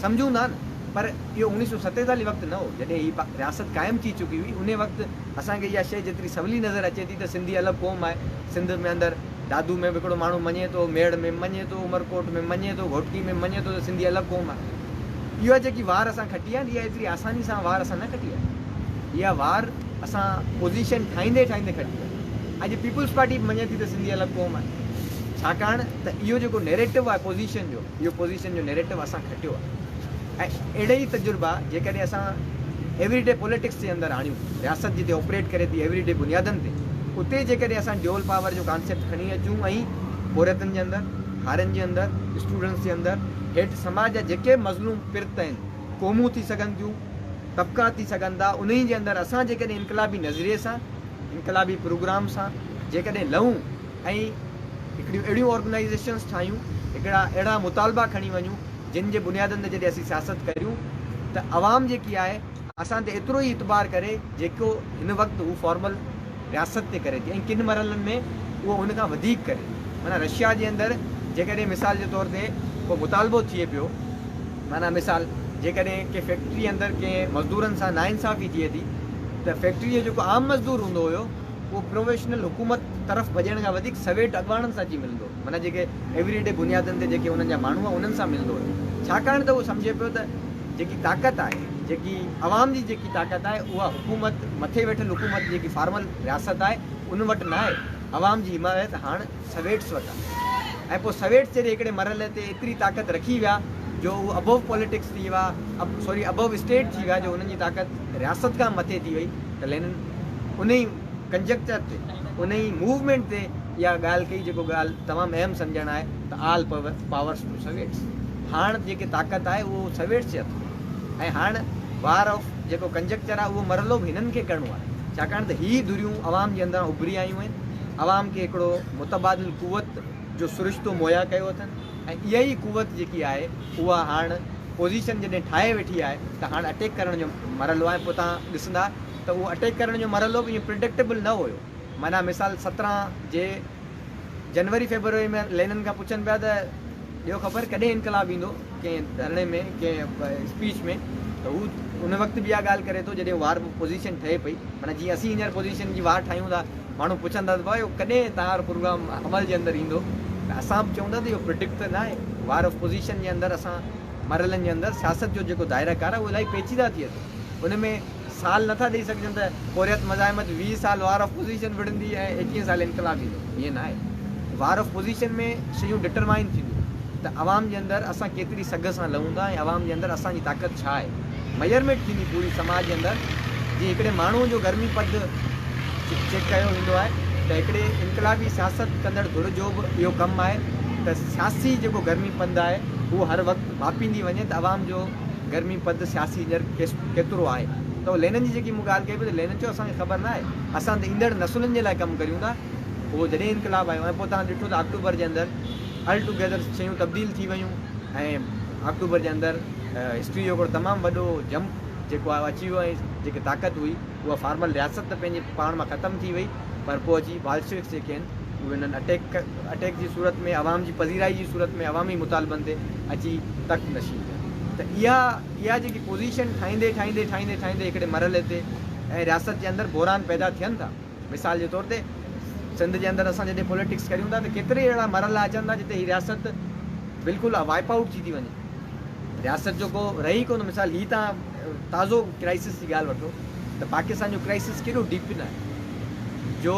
سمجهون ٿا نه پر اهو اڻيهه سؤ ستيتاليهه وقت نه هو جڏهن هي رياست قائم ٿي چڪي هئي انهي وقت اسان کي اها شئي جيتري سولي نظر اچي ٿي ته سنڌي الڳ قوم آهي سنڌ ۾ اندر دادو ۾ به هڪڙو ماڻهو مڃي ٿو ميڙ ۾ مڃي ٿو عمرڪوٽ ۾ مڃي ٿو گهوٽڪي ۾ مڃي ٿو ته سنڌي الڳ قوم آهي اها جيڪي وار اسان کٽي آهي اها ايتري آساني سان وار اسان نه کٽي آهي اها وار اسان پوزيشن ٺاهيندي ٺاهيندي کٽي آهي. اڄ پيپلز پارٽي به مڃي ٿي ته سنڌي الڳ قوم آهي ڇاڪاڻ ته اهو جيڪو نيريٽو آهي پوزيشن جو اهو پوزيشن جو نيريٽو اسان کٽيو آهي ۽ اهڙي ئي تجربا جيڪڏهن اسان ايوري ڊي پوليٽڪس جي اندر آڻيون رياست جتي آپريٽ ڪري ٿي ايوري ڊي بنيادن تي اتي جيڪڏهن اسان ڊيول پاور جو ڪانسيپٽ کڻي اچون ۽ پورهيتن جي اندر هارين جي اندر اسٽوڊنٽس جي اندر هيٺ سماج جا جيڪي مظلوم پرت آهن قومون ٿي سگهن ٿيون طبقا ٿي سگهن ٿا، انهي جي اندر اسان جيڪڏهن انقلابي نظريي سان، انقلابي پروگرام سان جيڪڏهن لهون ۽ هڪڙيون اهڙيون آرگنائيزيشنز ٺاهيون، هڪڙا اهڙا مطالبا کڻي وڃون، جن جي بنيادن تي جڏهن اسين سياست ڪريون ته عوام جيڪي آهي اسان تي ايترو ئي اعتبار ڪري جيڪو هن وقت هو فارمل. رياست تي ڪري ٿي ۽ ڪن مرحلن ۾ اهو ان کان وڌيڪ ڪري ٿي. معنيٰ رشيا جي اندر جيڪڏهن مثال جي طور تي ڪو مطالبو ٿئي پيو، معنيٰ مثال جيڪڏهن ڪنهن فيڪٽري اندر ڪنهن مزدورن سان ناانصافي ٿئي ٿي ته فيڪٽري جو جيڪو عام مزدور هوندو هيو اهو پروفيشنل حڪومت طرف ڀڄڻ کان وڌيڪ سويٽ اڳواڻن سان اچي ملندو هيو، معنيٰ جيڪي ايوري ڊي بنيادن تي جيڪي انهن جا ماڻهو هئا انهن سان ملندو هيو، ڇاڪاڻ ته اهو سمجهي پيو ته. جيڪي طاقت آهي جيڪي عوام جي جيڪي طاقت آهي اها حڪومت مٿي ويٺل حڪومت جيڪي فارمل رياست آهي ان وٽ ناهي عوام جي حمايت هاڻ سويٽس وٽ آهي ۽ پوء سويٽس جڏهن هڪڙي مرحلي تي ايتري طاقت رکي ويا جو هو ابوو پوليٽڪس ٿي ويا سوري ابوو اسٽيٽ ٿي ويا جو هنن جي طاقت رياست کان مٿي ٿي وئي ته لينن ان ئي ڪنجيڪچر تي ان ئي موومينٽ تي اها ڳالهه ڪئي جيڪو ڳالهه تمام اهم سمجهڻ آهي ته آل پاورس ٽو سويٽس هاڻ جيڪي طاقت آهي اهو سويٽس جي هٿ ۾ آهي ۽ هاڻ وار آف جيڪو ڪنجڪچر آهي اهو مرحلو به هنن کي ڪرڻو آهي ڇاڪاڻ ته هي ڌريون عوام جي اندران اڀري آيون آهن عوام کي هڪڙو متبادل قوت جو سرشتو مهيا ڪيو اٿن ۽ اها ئي قوت جيڪي آهي اها هاڻ پوزيشن جڏهن ٺاهي ويٺي آهي ته هاڻ اٽيڪ ڪرڻ جو مرحلو آهي پوء توهان ڏسندا ته اهو اٽيڪ ڪرڻ جو مرحلو به ايئن پرڊڪٽيبل نه هيو معنيٰ مثال سترهن جي جنوري فيبروري ۾ لينن کان پڇن پيا ته ڏيو خبر ڪڏهن انقلاب ايندو ڪنهن ڌرڻي ۾ ڪنهن اسپيچ ۾ ته هو ان وقت به اها ڳالهه ڪري ٿو جڏهن وار پوزيشن ٺهي پئي معنيٰ جيئن اسين هينئر پوزيشن جي وار ٺاهيون ٿا ماڻهو پڇن ٿا ته ڀائي ڪڏهن تهانجو پروگرام عمل جي اندر ايندو ته اسان به چئون ٿا ته اهو پرڊڪٽ ته ناهي وار آف پوزيشن جي اندر اسان مرحلن جي اندر سياست جو جيڪو دائره ڪار آهي اهو الاهي پيچيده ٿئي ٿو ان ۾ سال نه ٿا ڏئي سگهجن ته پورهيت مزاحمت ويهه سال وار آف پوزيشن وڙهندي ۽ ايڪيهن سال انقلاب ايندو ائين نه آهي وار آف پوزيشن ۾ شيون ڊٽرمائن ٿينديون ته عوام جي اندر اسان ڪيتري سگهه سان لهون ٿا ۽ عوام جي اندر اسان جي طاقت ڇا آهي ميئرميٽ ٿيندي پوري سماج جي اندر جي هڪڙي ماڻهو جو گرمي پد چيڪ ڪيو ويندو آهي ته هڪڙي انقلابي سياست ڪندڙ ڌر جو به اهو ڪم آهي ته سياسي جيڪو گرمي پد آهي اهو هر وقت ماپيندي وڃي ته عوام جو گرمي پد سياسي ڄرڪ ڪيترو آهي تو لينن جي جيڪي مون ڳالهه ڪئي پئي ته لينن چيو اسان کي خبر نه آهي اسان ته ايندڙ نسلن جي لاء ڪم ڪريون ٿا پوء جڏهن انقلاب آيو ۽ پوء توهان ڏٺو ته آڪٽوبر جي اندر آل ٽو گيدر شيون تبديل ٿي ويون ۽ آڪٽوبر جي اندر هسٽري جو هڪڙو تمام وڏو جمپ جيڪو آهي اچي ويو ۽ جيڪي طاقت هئي اها فارمل رياست ته پنهنجي پاڻ مان ختم ٿي وئي پر پوء اچي بالشوڪس جيڪي آهن اهي انهن اٽيڪ اٽيڪ جي صورت ۾ عوام جي پذيرائي جي صورت ۾ عوامي مطالبن تي اچي تخت نشين ٿيا ته اها اها جيڪي پوزيشن ٺاهيندي ٺاهيندي ٺاهيندي ٺاهيندي هڪڙي مرحلي تي ۽ رياست جي اندر بحران پيدا ٿين ٿا مثال جي طور تي سنڌ جي اندر اسان جڏهن پوليٽڪس ڪريون ٿا ته ڪيتري اهڙا مرحلا اچن ٿا جتي هي رياست بلڪل وائپ آئوٽ ٿي ٿي وڃي رياست جو ڪو رهي ئي ڪونه مثال هي توهان تازو ڪرائسس جي ڳالهه وٺو ته پاڪستان جو ڪرائسس ڪيڏو ڊيپن آهي جو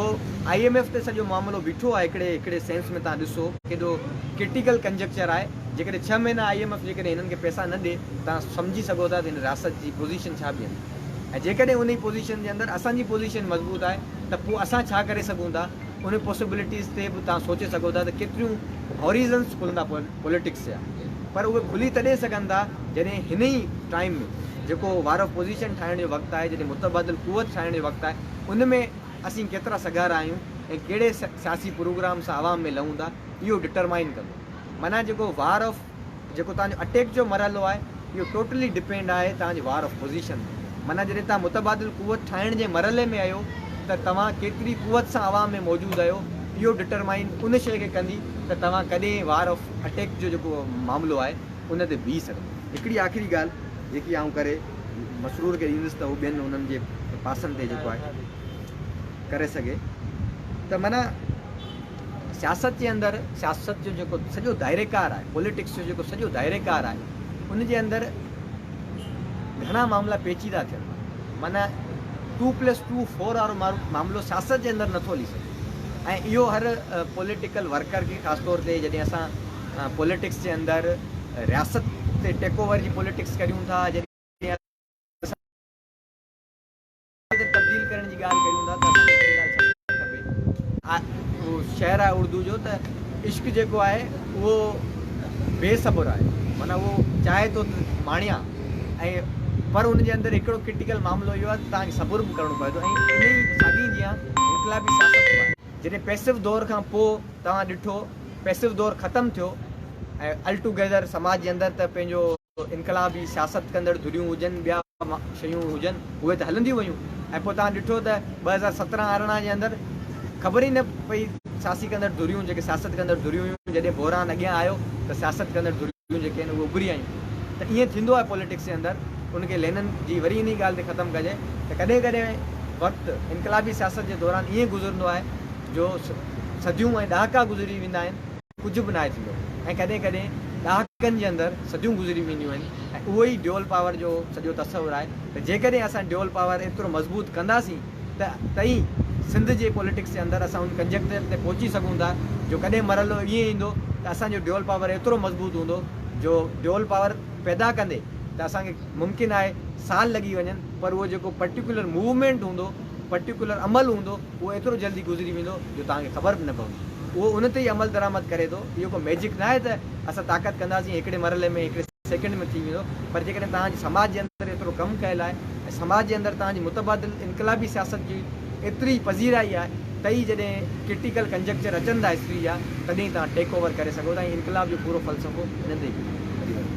آئي ايم ايف تي سڄو معاملو بيٺو آهي هڪڙي هڪڙي سينس ۾ توهان ڏسو ڪيڏو ڪرٽيڪل ڪنجڪچر آهي جيڪڏهن ڇهه مهينا آئي ايم ايف جيڪڏهن هنن کي پئسا نه ڏي توهان سمجهي سگهو ٿا ته هن رياست جي پوزيشن ڇا بيهندي ۽ جيڪڏهن انهي پوزيشن جي اندر اسان جي پوزيشن مضبوط آهي ته پوء اسان ڇا ڪري سگهون ٿا انهي پاسيبلٽيز تي به توهان سوچي سگهو ٿا ته ڪيتريون هوريزنس کلندا پون. پوليٽڪس جا پر اهي کلي تڏهن سگهن ٿا جڏهن هن ئي ٽائيم ۾ جيڪو وار آف پوزيشن ٺاهڻ جو وقت آهي جڏهن متبادل قوت ٺاهڻ جو وقت آهي ان ۾ اسين ڪيترا سگهارا آهيون ۽ ڪهڙي سياسي پروگرام سان عوام ۾ لهون ٿا اهو ڊٽرمائين ڪندو معنيٰ جيڪو وار آف جيڪو توهان جو اٽيڪ جو مرحلو آهي اهو ٽوٽلي ڊپينڊ آهي توهان جي وار آف پوزيشن تي معنيٰ جڏهن توهان متبادل قوت ٺاهڻ جي مرحلي ۾ اهيو ته توهان ڪيتري قوت سان عوام ۾ موجود اهيو اهو ڊٽرمائن ان شيء کي ڪندي ته توهان ڪڏهن وار آف اٽيڪ جو جيڪو معاملو آهي ان تي بيهي سگهندا. هڪڙي آخري ڳالهه جيڪي آئون ڪري مسرور کي ڏيندس ته هو ٻين انهن جي پاسن تي جيڪو آهي ڪري سگهي ته معنيٰ سياست جي اندر سياست جو جيڪو سڄو دائريڪار آهي پوليٽڪس جو جيڪو سڄو دائريڪار آهي ان جي اندر گهڻا معاملا پيچيدا ٿين ٿا معنيٰ ٽو پلس ٽو فور وارو معاملو سياست جي اندر نٿو هلي سگهي ۽ اهو هر پوليٽيڪل ورڪر کي خاص طور تي جڏهن اسان پوليٽڪس جي اندر رياست تي ٽيڪ اوور جي پوليٽڪس ڪريون ٿا جڏهن ڪٿي تبديل ڪرڻ جي ڳالهه ڪريون ٿا ته اسان کي هڪڙي ڳالهه سمجهڻ کپي. اهو شعر آهي اردو جو ته عشق جيڪو آهي اهو بي صبر آهي معنيٰ اهو چاهي ٿو ته ماڻيان ۽ پر ان جي اندر هڪڙو ڪرٽيڪل معاملو اهو آهي ته توهان کي صبر به ڪرڻو پوي ٿو ۽ انهي ساڳي جيان انقلابي سياست به آهي. جڏهن پيسو دور کان پوء توهان ڏٺو پيسو دور ختم ٿيو ۽ الٽوگيدر سماج جي اندر ته پنهنجو. انقلابي سياست ڪندڙ ڌريون هجن ٻيا شيون هجن اهي ته هلنديون ويون ۽ پوء توهان ڏٺو ته ٻه هزار سترهن ارڙهن جي اندر خبر ئي نه پئي سياسي ڪندڙ ڌريون جيڪي سياست ڪندڙ ڌريون هيون جڏهن بحران اڳيان آيو ته سياست ڪندڙ ڌريون جيڪي آهن اهي اڀري آيون ته ائين ٿيندو آهي پوليٽڪس جي اندر ان کي لينن جي وري انهي ڳالهه تي ختم ڪجي ته ڪڏهن ڪڏهن وقت انقلابي سياست جي دوران ائين گذرندو آهي جو صديون ۽ ڏهاڪا گذري ويندا آهن. ڪجهه به ناهي ٿيندو ۽ ڪڏهن ڪڏهن ڏهاڪن جي اندر صديون گذري وينديون آهن ۽ اهو ئي ڊيول پاور جو سڄو تصور آهي ته جيڪڏهن اسان ڊيول پاور ايترو مضبوط ڪنداسين ته ته ئي سنڌ جي پوليٽڪس جي اندر اسان ان ڪنجڪٽر تي پهچي سگهون ٿا جو ڪڏهن مرحلو ائين ايندو ته اسان جو ڊيول پاور ايترو مضبوط هوندو جو ڊيول پاور پيدا ڪندي ته اسان کي ممڪن آهي سال لڳي وڃن پر اهو جيڪو پرٽيڪولر موومينٽ هوندو پرٽيڪولر عمل هوندو اهو ايترو جلدي گذري ويندو جو توهان کي خبر به نه پوندي. اهو ان تي ئي عملدرآمد ڪري ٿو. اهو ڪو ميجڪ ناهي ته اسان طاقت ڪنداسين ۽ هڪڙي مرحلي ۾ هڪڙي سيڪنڊ ۾ ٿي ويندو پر جيڪڏهن توهان جي سماج جي اندر ايترو ڪم ڪيل آهي ۽ سماج جي اندر توهان جي متبادل انقلابي سياست جي ايتري پذيرائي آهي ته ئي جڏهن ڪرٽيڪل ڪنجڪچر اچن ٿا هسٽري جا تڏهن ئي توهان ٽيڪ اوور ڪري سگهو ٿا ۽ انقلاب جو پورو فلسفو هن تي ئي بيهندو.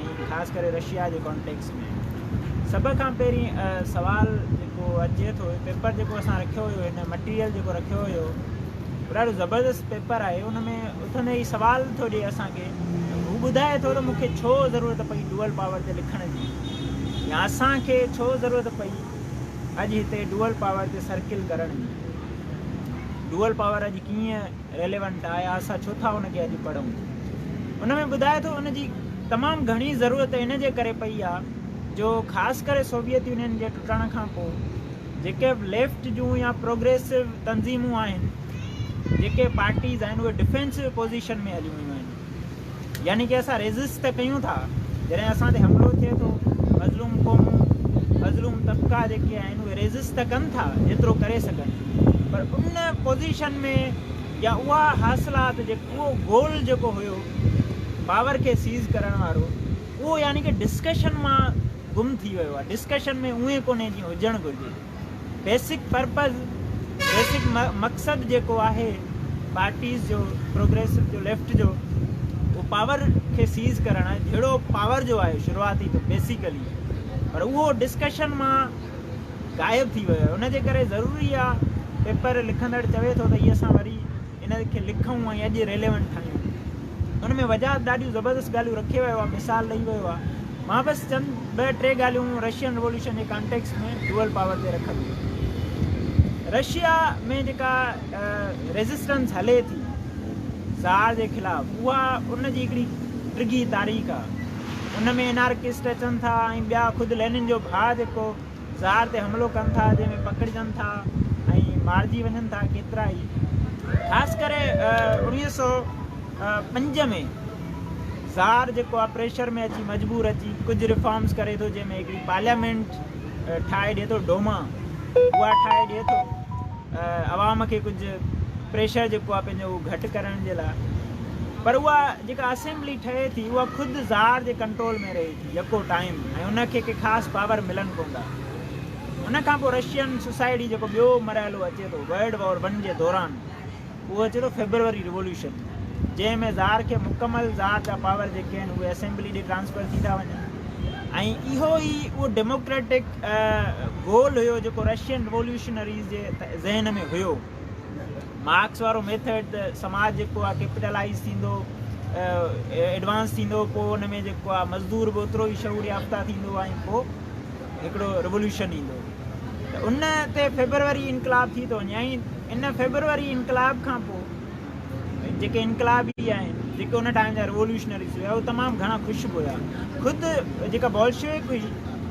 ۽ خاص ڪري رشيا جي ڪانٽيڪس ۾ سڀ کان پهرين سوال جيڪو اچي ٿو پيپر جيڪو اسان رکيو هيو هن مٽيريل جيڪو رکيو هيو ڏاڍو زبردست پيپر آهي ان ۾ اٿندي ئي سوال ٿو ڏي اسانکي هو ٻڌائي ٿو ته مونکي ڇو ضرورت پئي ڊوئل پاور تي لکڻ جي يا اسانکي ڇو ضرورت پئي اڄ هتي ڊوئل پاور تي سرڪل ڪرڻ جي ڊوئل پاور اڄ ڪيئن ريليونٽ آهي اسان ڇو ٿا ان کي اڄ پڙهون ان ۾ ٻڌائي ٿو ان جي تمام گهڻي ضرورت ان جي ڪري پئي آهي جو خاص ڪري سوويت يونين جي ٽٽڻ کان پوء جيڪي به ليفٽ جون يا پروگريسو تنظيمون آهن جيڪي پارٽيز آهن اهي ڊفينسو پوزيشن ۾ هليون ويون آهن يعني ڪي اسان ريزسٽ ته ڪيون ٿا جڏهن اسان تي حملو ٿئي ٿو مظلوم قومون مظلوم طبقا جيڪي آهن اهي ريزسٽ ته ڪن ٿا جيترو ڪري سگهن پر ان پوزيشن ۾ يا اها حاصلات جيڪو اهو گول جيڪو هيو پاور کي سيز ڪرڻ وارو اهو يعني ڪي ڊسڪشن مان گم ٿي ويو آهي ڊسڪشن ۾ اهي ڪونهي جيئن هجڻ گهرجي بيسڪ پرپز بيسڪ مقصد جيڪو آهي پارٽيز جو پروگريسو جو ليفٽ جو اهو پاور کي سيز ڪرڻ آهي جهڙو پاور جو آهي شروعاتي تو بيسيڪلي پر اهو ڊسڪشن مان غائب ٿي ويو آهي ان جي ڪري ضروري آهي پيپر لکندڙ چوي ٿو ته هي اسان وري ان کي لکون ۽ اڄ ريليونٽ ٺاهيون. ان ۾ وجاهت ڏاڍيون زبردست ڳالهيون رکي ويو آهي، مثال ڏئي ويو آهي. مان بس چند ٻه ٽي ڳالهيون رشين ريوليوشن جي ڪانٽيڪسٽ ۾ ڊوئل پاور تي رکندس. رشيا ۾ جيڪا ريزسٽنس هلي ٿي زار جي خلاف اها ان جي هڪڙي ڊگهي تاريخ آهي. ان ۾ انارڪسٽ اچن ٿا ۽ ٻيا خود لينن جو ڀاء جيڪو زار تي حملو ڪن ٿا جنهن ۾ پڪڙجن ٿا ۽ مارجي وڃن ٿا ڪيترا ئي خاص ڪري اوڻيهه سؤ پنج ۾ زار جيڪو آهي پريشر ۾ اچي مجبور اچي ڪجهه ريفارمز ڪري ٿو جنهن ۾ هڪڙي پارليامينٽ ٺاهي ڏي ٿو ڊوما اها ٺاهي ڏي ٿو عوام کي ڪجهه پريشر جيڪو آهي پنهنجو اهو گهٽ ڪرڻ جي لاء پر اها جيڪا اسيمبلي ٺهي ٿي اها خود زار جي ڪنٽرول ۾ رهي ٿي يڪو ٽائيم ۽ ان کي ڪي خاص پاور ملن ڪون ٿا. ان کان پوء رشين سوسائيٽي جيڪو ٻيو مرحلو اچي ٿو ورلڊ وار ون جي دوران اهو اچي ٿو فيبروري ريوليوشن جنهن ۾ زار کي مڪمل زار جا پاور جيڪي آهن اهي اسيمبلي ڏي ٽرانسفر ٿي ٿا وڃن ۽ اهو ئي اهو ڊيموڪريٽڪ گول هيو جيڪو رشين ريوليوشنريز جي ذهن ۾ هيو. مارڪس وارو ميٿڊ ته سماج جيڪو آهي ڪيپيٽلائيز ٿيندو ايڊوانس ٿيندو پوء ان ۾ جيڪو آهي مزدور به اوترو ئي شعور يافته ٿيندو ۽ پوء هڪڙو ريولوشن ايندو ته ان تي فيبروري انقلاب ٿي ٿو وڃي ۽ ان فيبروري انقلاب کان پوء جيڪي انقلابي آهن جيڪي ان ٽائم جا ريولوشنريز هيا اهي تمام گهڻا خوش به هيا خود جيڪا بولشويڪ هئي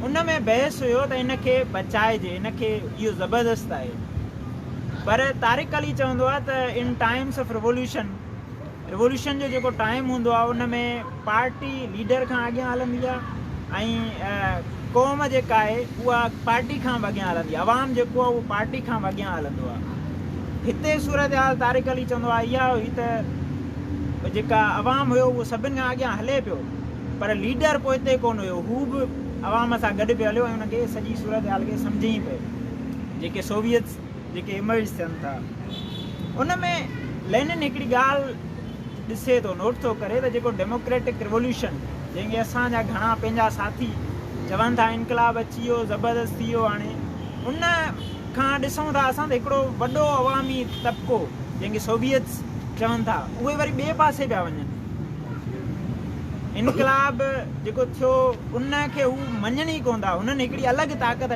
ان ۾ بحث هيو ته ان کي بچائجي ان کي اهو زبردست آهي پر طارق علي چوندو آهي ته in times of revolution revolution جو جيڪو ٽائيم هوندو آهي ان ۾ پارٽي ليڊر کان اڳيان هلندي آهي ۽ قوم جيڪا آهي اها پارٽي کان به اڳيان هلندي آهي عوام جيڪو آهي اهو پارٽي کان به اڳيان هلندو آهي هتي صورتحال طارق علي چوندو آهي اها هئي ته جيڪا عوام هيو اهو سڀني کان اڳيان هلي پيو پر ليڊر پوئتي ڪونه هيو هو به عوام سان گڏ پيو هليو ۽ ان کي سڄي صورتحال کي سمجهيائين پئي جيڪي سوويتس جيڪي ايمرج ٿين ٿا ان ۾ لينن هڪڙي ڳالهه ڏسي ٿو نوٽ ٿو ڪري ته جيڪو ڊيموڪريٽڪ ريولوشن جنهن کي اسان جا گهڻا پنهنجا ساٿي چون ٿا انقلاب اچي ويو زبردست ٿي ويو هاڻي ان کان ڏسون ٿا اسان ته هڪڙو وڏو عوامي طبقو جنهن کي سوويتس چون ٿا اهي وري ٻئي پاسي پيا وڃن انقلاب جيڪو ٿيو ان کي هو مڃن ئي ڪون ٿا هنن هڪڙي الڳ طاقت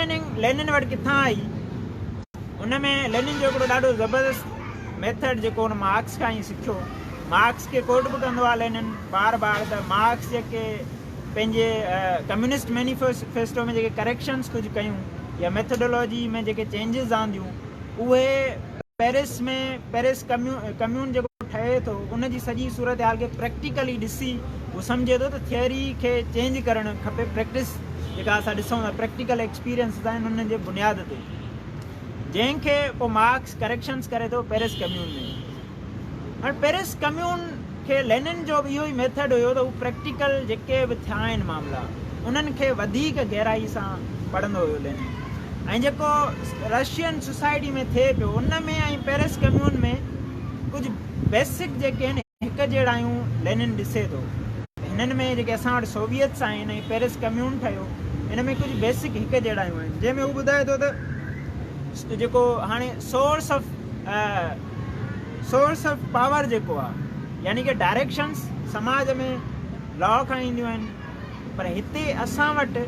ٽريننگ لينن وٽ ڪٿان آئي؟ ان ۾ لينن جو هڪڙو ڏاڍو زبردست ميٿڊ جيڪو هن مارڪس کان ئي سکيو. مارڪس کي ڪوٽ به ڪندو آهي لينن بار بار ته مارڪس جيڪي پنهنجي ڪميونسٽ مينيفيسٽو ۾ جيڪي ڪريڪشنس ڪجهه ڪيون يا ميٿڊالاجي ۾ جيڪي چينجز آنديون، اهي پئرس ۾ پئرس ڪميون جيڪو ٺهي ٿو ان جي سڄي صورتحال کي پريڪٽيڪلي ڏسي هو سمجهي ٿو ته ٿيوري کي چينج ڪرڻ کپي پريڪٽس جيڪا اسان ڏسون ٿا پريڪٽيڪل ايڪسپيرينسز آهن انهن جي بنياد تي جنهن کي پوء مارڪس ڪريڪشنس ڪري ٿو پئرس ڪميون ۾ هاڻي پئرس ڪميون کي لينن جو به اهو ئي ميٿڊ هيو ته هو پريڪٽيڪل جيڪي به ٿيا آهن معاملا انهن کي وڌيڪ گهرائي سان پڙهندو هيو لينن ۽ جيڪو رشين سوسائٽي ۾ ٿئي پيو ان ۾ ۽ پئرس ڪميون ۾ ڪجهه بيسڪ جيڪي آهن هڪ جهڙايون لينن ڏسي ٿو. هنن ۾ جيڪي اسان وٽ سوويتس آهن ۽ پئرس ڪميون ٺهيو ان ۾ ڪجهه بيسڪ هڪ جهڙايون آهن جنهن ۾ هو ٻڌائي ٿو ته جيڪو هاڻي source of source of power جيڪو آ يعني ڪي ڊائريڪشنس سماج ۾ لا کان اينديون آهن پر هتي اسان وٽ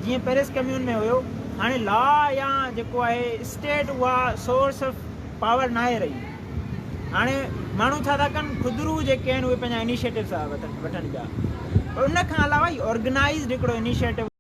جيئن پيرس ڪميون ۾ هيو هاڻي لا يا جيڪو آهي اسٽيٽ اها سورس آف پاور نه آهي رهي هاڻي ماڻهو ڇا ٿا ڪن خدرو جيڪي آهن اهي پنهنجا انيشيٽو ٿا وٺن پيا ان کان علاوه آرگنائزڊ هڪڙو انيشيٽو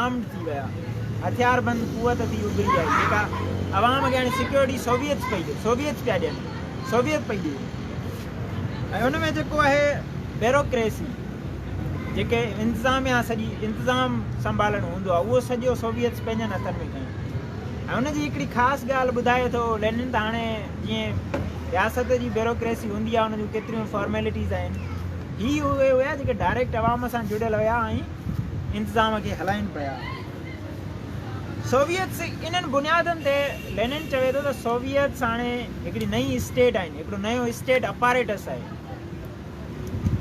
آرمڊ ٿي ويا، هٿياربند قوت ٿي اڀري آئي جيڪا عوام کي هاڻي سيڪيورٽي سوويت پئي ڏي، سوويت پيا ڏين، سوويت پئي ڏي ۽ ان ۾ جيڪو آهي بيروڪريسي جيڪي انتظاميا سڄي انتظام سنڀالڻ هوندو آهي اهو سڄو سوويتس پنهنجن هٿن ۾ کنيو ۽ ان جي هڪڙي خاص ڳالهه ٻڌائي ٿو لينن ته هاڻي جيئن رياست جي بيروڪريسي هوندي آهي ان جون ڪيتريون فارميلٽيز آهن هي اهي هيا جيڪي ڊائريڪٽ عوام سان جڙيل هيا ۽ انتظام کي هلائين پيا. سوويتس انهن بنيادن تي لينن چوي ٿو ته سوويتس هاڻي هڪڙي نئين اسٽيٽ آهن، هڪڙو نيو اسٽيٽ اپاريٽس آهي.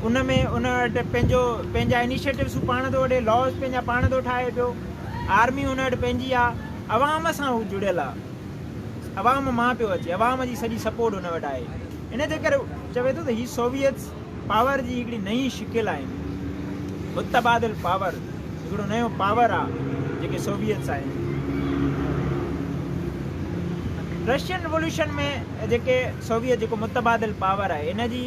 ان ۾ ان وٽ پنهنجو پنهنجا انيشيٽوز هو پاڻ ٿو وٺي، لاز پنهنجا پاڻ ٿو ٺاهي پيو، آرمي ان وٽ پنهنجي آهي، عوام سان هو جڙيل آهي، عوام مان پيو اچي، عوام جي سڄي سپورٽ هن وٽ آهي. ان جي ڪري چوي ٿو ته هي سوويتس. پاور جي هڪڙي نئين شڪل آهن. متبادل پاور هڪڙو نيون پاور آ جيڪي سوويتس آهن. رشين رولوشن ۾ جيڪي سوويت جيڪو متبادل پاور آهي ان جي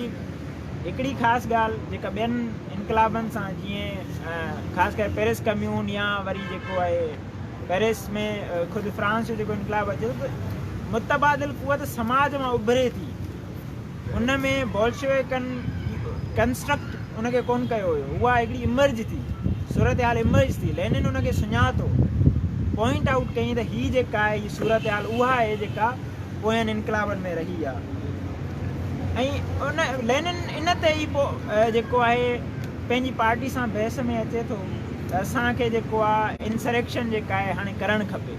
هڪڙي خاص ڳالهه جيڪا ٻين انقلابن سان جيئن خاص ڪري پيرس ڪميون يا وري جيڪو آهي پيرس ۾ خود فرانس جو جيڪو انقلاب اچي ٿو ته متبادل قوت سماج مان اڀري ٿي ان ۾ بولشويڪن ڪنسٽرڪٽ ان کي ڪون ڪيو هيو اها هڪڙي امرج ٿي صورتحال امرج ٿي لينن ان کي سڃاتو پوائنٽ آئوٽ ڪيائين ته هي جيڪا هي صورتحال اها آهي جيڪا پوين انقلابن ۾ رهي آهي ان لينن ان تي ئي پوء جيڪو آهي پنهنجي پارٽي سان بحث ۾ اچي ٿو ته اسانکي جيڪو آهي انسريڪشن جيڪا آهي هاڻي ڪرڻ کپي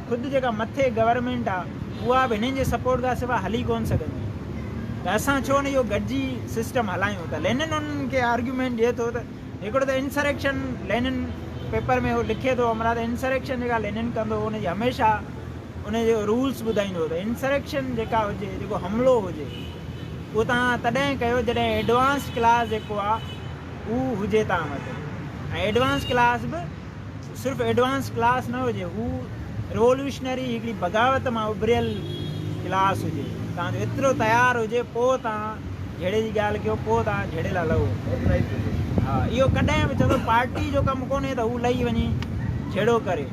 خود جيڪا مٿي گورنمينٽ آ اها به هنن جي سپورٽ کان سوا هلي ڪونه سگهندي ته اسان ڇو نه اهو گڏجي سسٽم هلايون ته لينن انهن کي آرگيومينٽ ڏئي ٿو ته هڪڙو ته انسريڪشن لينن پيپر ۾ هو لکي ٿو امرا ته انسريڪشن جيڪا لينن ڪندو ان جي هميشه ان جو رولس ٻڌائيندو ته انسريڪشن جيڪا هجي جيڪو حملو هجي اهو تان تڏهن ڪيو جڏهن ايڊوانس ڪلاس جيڪو آ اهو هجي تان وٽ ۽ ايڊوانس ڪلاس به صرف ايڊوانس ڪلاس نه هجي، هو ريولوشنري هڪڙي بغاوت مان اڀريل ڪلاس هجي، تان جو ايترو تيار هجي، پوء توهان جهيڙي جي ڳالهه ڪيو، پوء توهان جهيڙي لاء لهو. ها، اهو ڪڏهن به چوندو پارٽي جو ڪم ڪونهي ته هو لهي وڃي جهيڙو ڪري.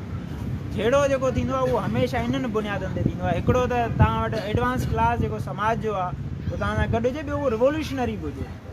جهيڙو جيڪو ٿيندو آهي اهو هميشه انهن بنيادن تي ٿيندو آهي، هڪڙو ته توهان وٽ ايڊوانس ڪلاس جيڪو سماج جو آهي، هو توهان سان گڏ هجي، ٻيو هو ريولوشنري به هجي.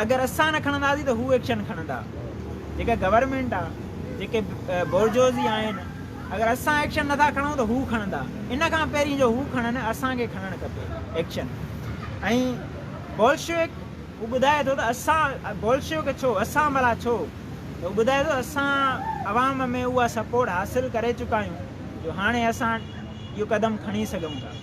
اگر اسان نه کڻنداسين ته هو ايڪشن کڻندا جيڪا گورنمينٽ آ جيڪي بورجوزي آهن اگر اسان ايڪشن نه ٿا کڻون ته هو کڻندا ان کان پهرين جو هو کڻن اسان کي کڻڻ کپي ايڪشن ۽ بولشويڪ هو ٻڌائي ٿو ته اسان بولشويڪ ڇو اسان ڀلا ڇو ته هو ٻڌائي ٿو اسان عوام ۾ اها سپورٽ حاصل ڪري چڪا آهيون جو هاڻي اسان اهو قدم کڻي سگهون ٿا.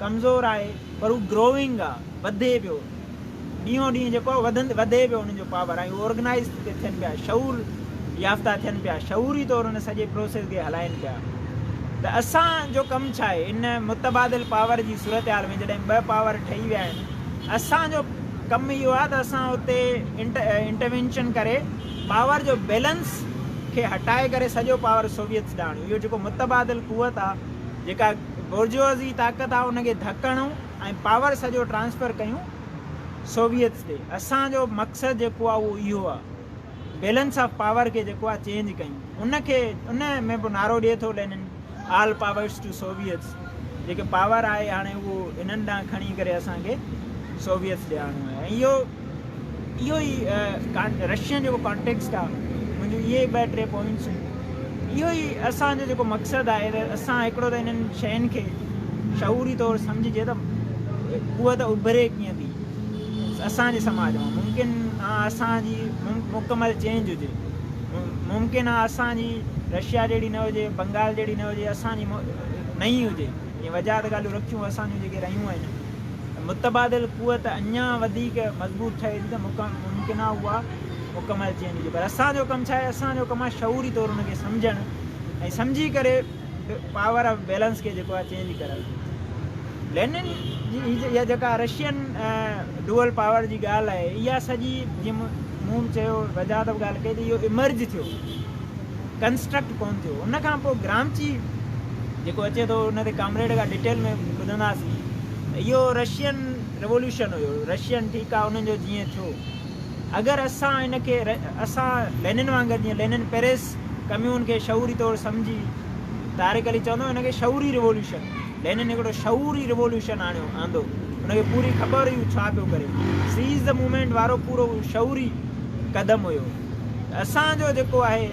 ڪمزور آهي پر هو گروئنگ آ وڌي پيو ڏينهون ڏينهن جيڪو آ وڌندي وڌي پيو انهن جو پاور ۽ هو آرگنائيز تي ٿين پيا شعور يافته ٿين پيا شعوري طور ان سڄي پروسيس کي هلائين پيا ته اسان جو ڪم ڇا آهي ان متبادل پاور جي صورتحال ۾ جڏهن ٻه پاور ٺهي ويا آهن اسان جو ڪم اهو آ ته اسان اتي انٽروينشن ڪري پاور جو بيلنس کي هٽائي ڪري سڄو پاور سوويتس ڏانهن اهو جيڪو متبادل قوت آ جيڪا بورجوازي طاقت آ ان کي ڌڪ هڻون ۽ پاور سڄو ٽرانسفر ڪيون سوويتس تي. اسان جو مقصد جيڪو آ اهو اهو آ بيلنس آف پاور کي جيڪو آ چينج ڪيون ان کي ان ۾ به نعرو ڏي ٿو Lenin all powers to Soviets جيڪي پاور آهي هاڻي اهو هنن ڏانهن کڻي ڪري اسان کي سوويتس ڏي آڻو آهي ۽ اهو اهو ئي رشين جيڪو ڪانٽيڪسٽ آ منهنجون اهي ئي ٻه ٽي پوائنٽسون اهو ئي اسان جو جيڪو مقصد آهي ته اسان هڪڙو ته انهن شين کي شعوري طور سمجهجي ته قوت اڀري ڪيئن ٿي اسان جي سماج مان ممڪن آ اسان جي مڪمل چينج هجي ممڪن آ اسان جي رشيا جهڙي نه هجي بنگال جهڙي نه هجي اسان جي نئين هجي جي وجهه ته ڳالهيون رکيون اسان جون جيڪي رهيون آهن ته متبادل قوت اڃا وڌيڪ مضبوط ٺهي ٿي ته ممڪن آهي اها مڪمل چين هجي پر اسان جو ڪم ڇا آهي اسان جو ڪم آهي شعوري طور ان کي سمجهڻ ۽ سمجهي ڪري پاور آف بيلنس کي جيڪو آهي چينج ڪرڻ لينن جي اها جيڪا رشين ڊوئل پاور جي ڳالهه آهي اها سڄي جيئن مون چيو وجاهت ڳالهه ڪئي ته اهو امرج ٿيو ڪنسٽرڪٽ ڪون ٿيو ان کان پوء گرامچي جيڪو اچي ٿو ان تي ڪامريڊ کان ڊيٽيل ۾ ٻڌنداسين ته اهو رشين ريولوشن هيو رشين ٺيڪ آهي انهن جو جيئن ٿيو اگر اسان ان کي اسان لينن وانگر جيئن لينن پيرس ڪميون کي شعوري طور سمجهي طارق علي چوندو ان کي شعوري ريولوشن لينن هڪڙو شعوري ريولوشن آڻيو آندو ان کي پوري خبر هيو ڇا پيو ڪري سيز ذا مومينٽ وارو پورو شعوري قدم هيو ته اسان جو جيڪو آهي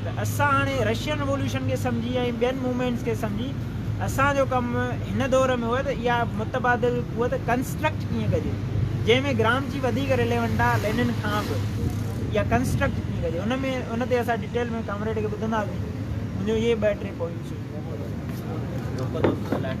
ته اسان هاڻي رشين ريوليوشن کي سمجهي ۽ ٻين موومينٽس کي سمجهي اسان جو ڪم هن دور ۾ هو ته اها متبادل قوت ڪنسٽرڪٽ ڪيئن ڪجي جنهن ۾ گرامشي وڌيڪ ريليونٽ آهي لينن کان به اها ڪنسٽرڪٽ ڪيئن ڪجي ان ۾ ان تي اسان ڊيٽيل ۾ ڪامريڊ کي ٻڌنداسين منهنجو اهي ٻه ٽي پوائنٽس هئي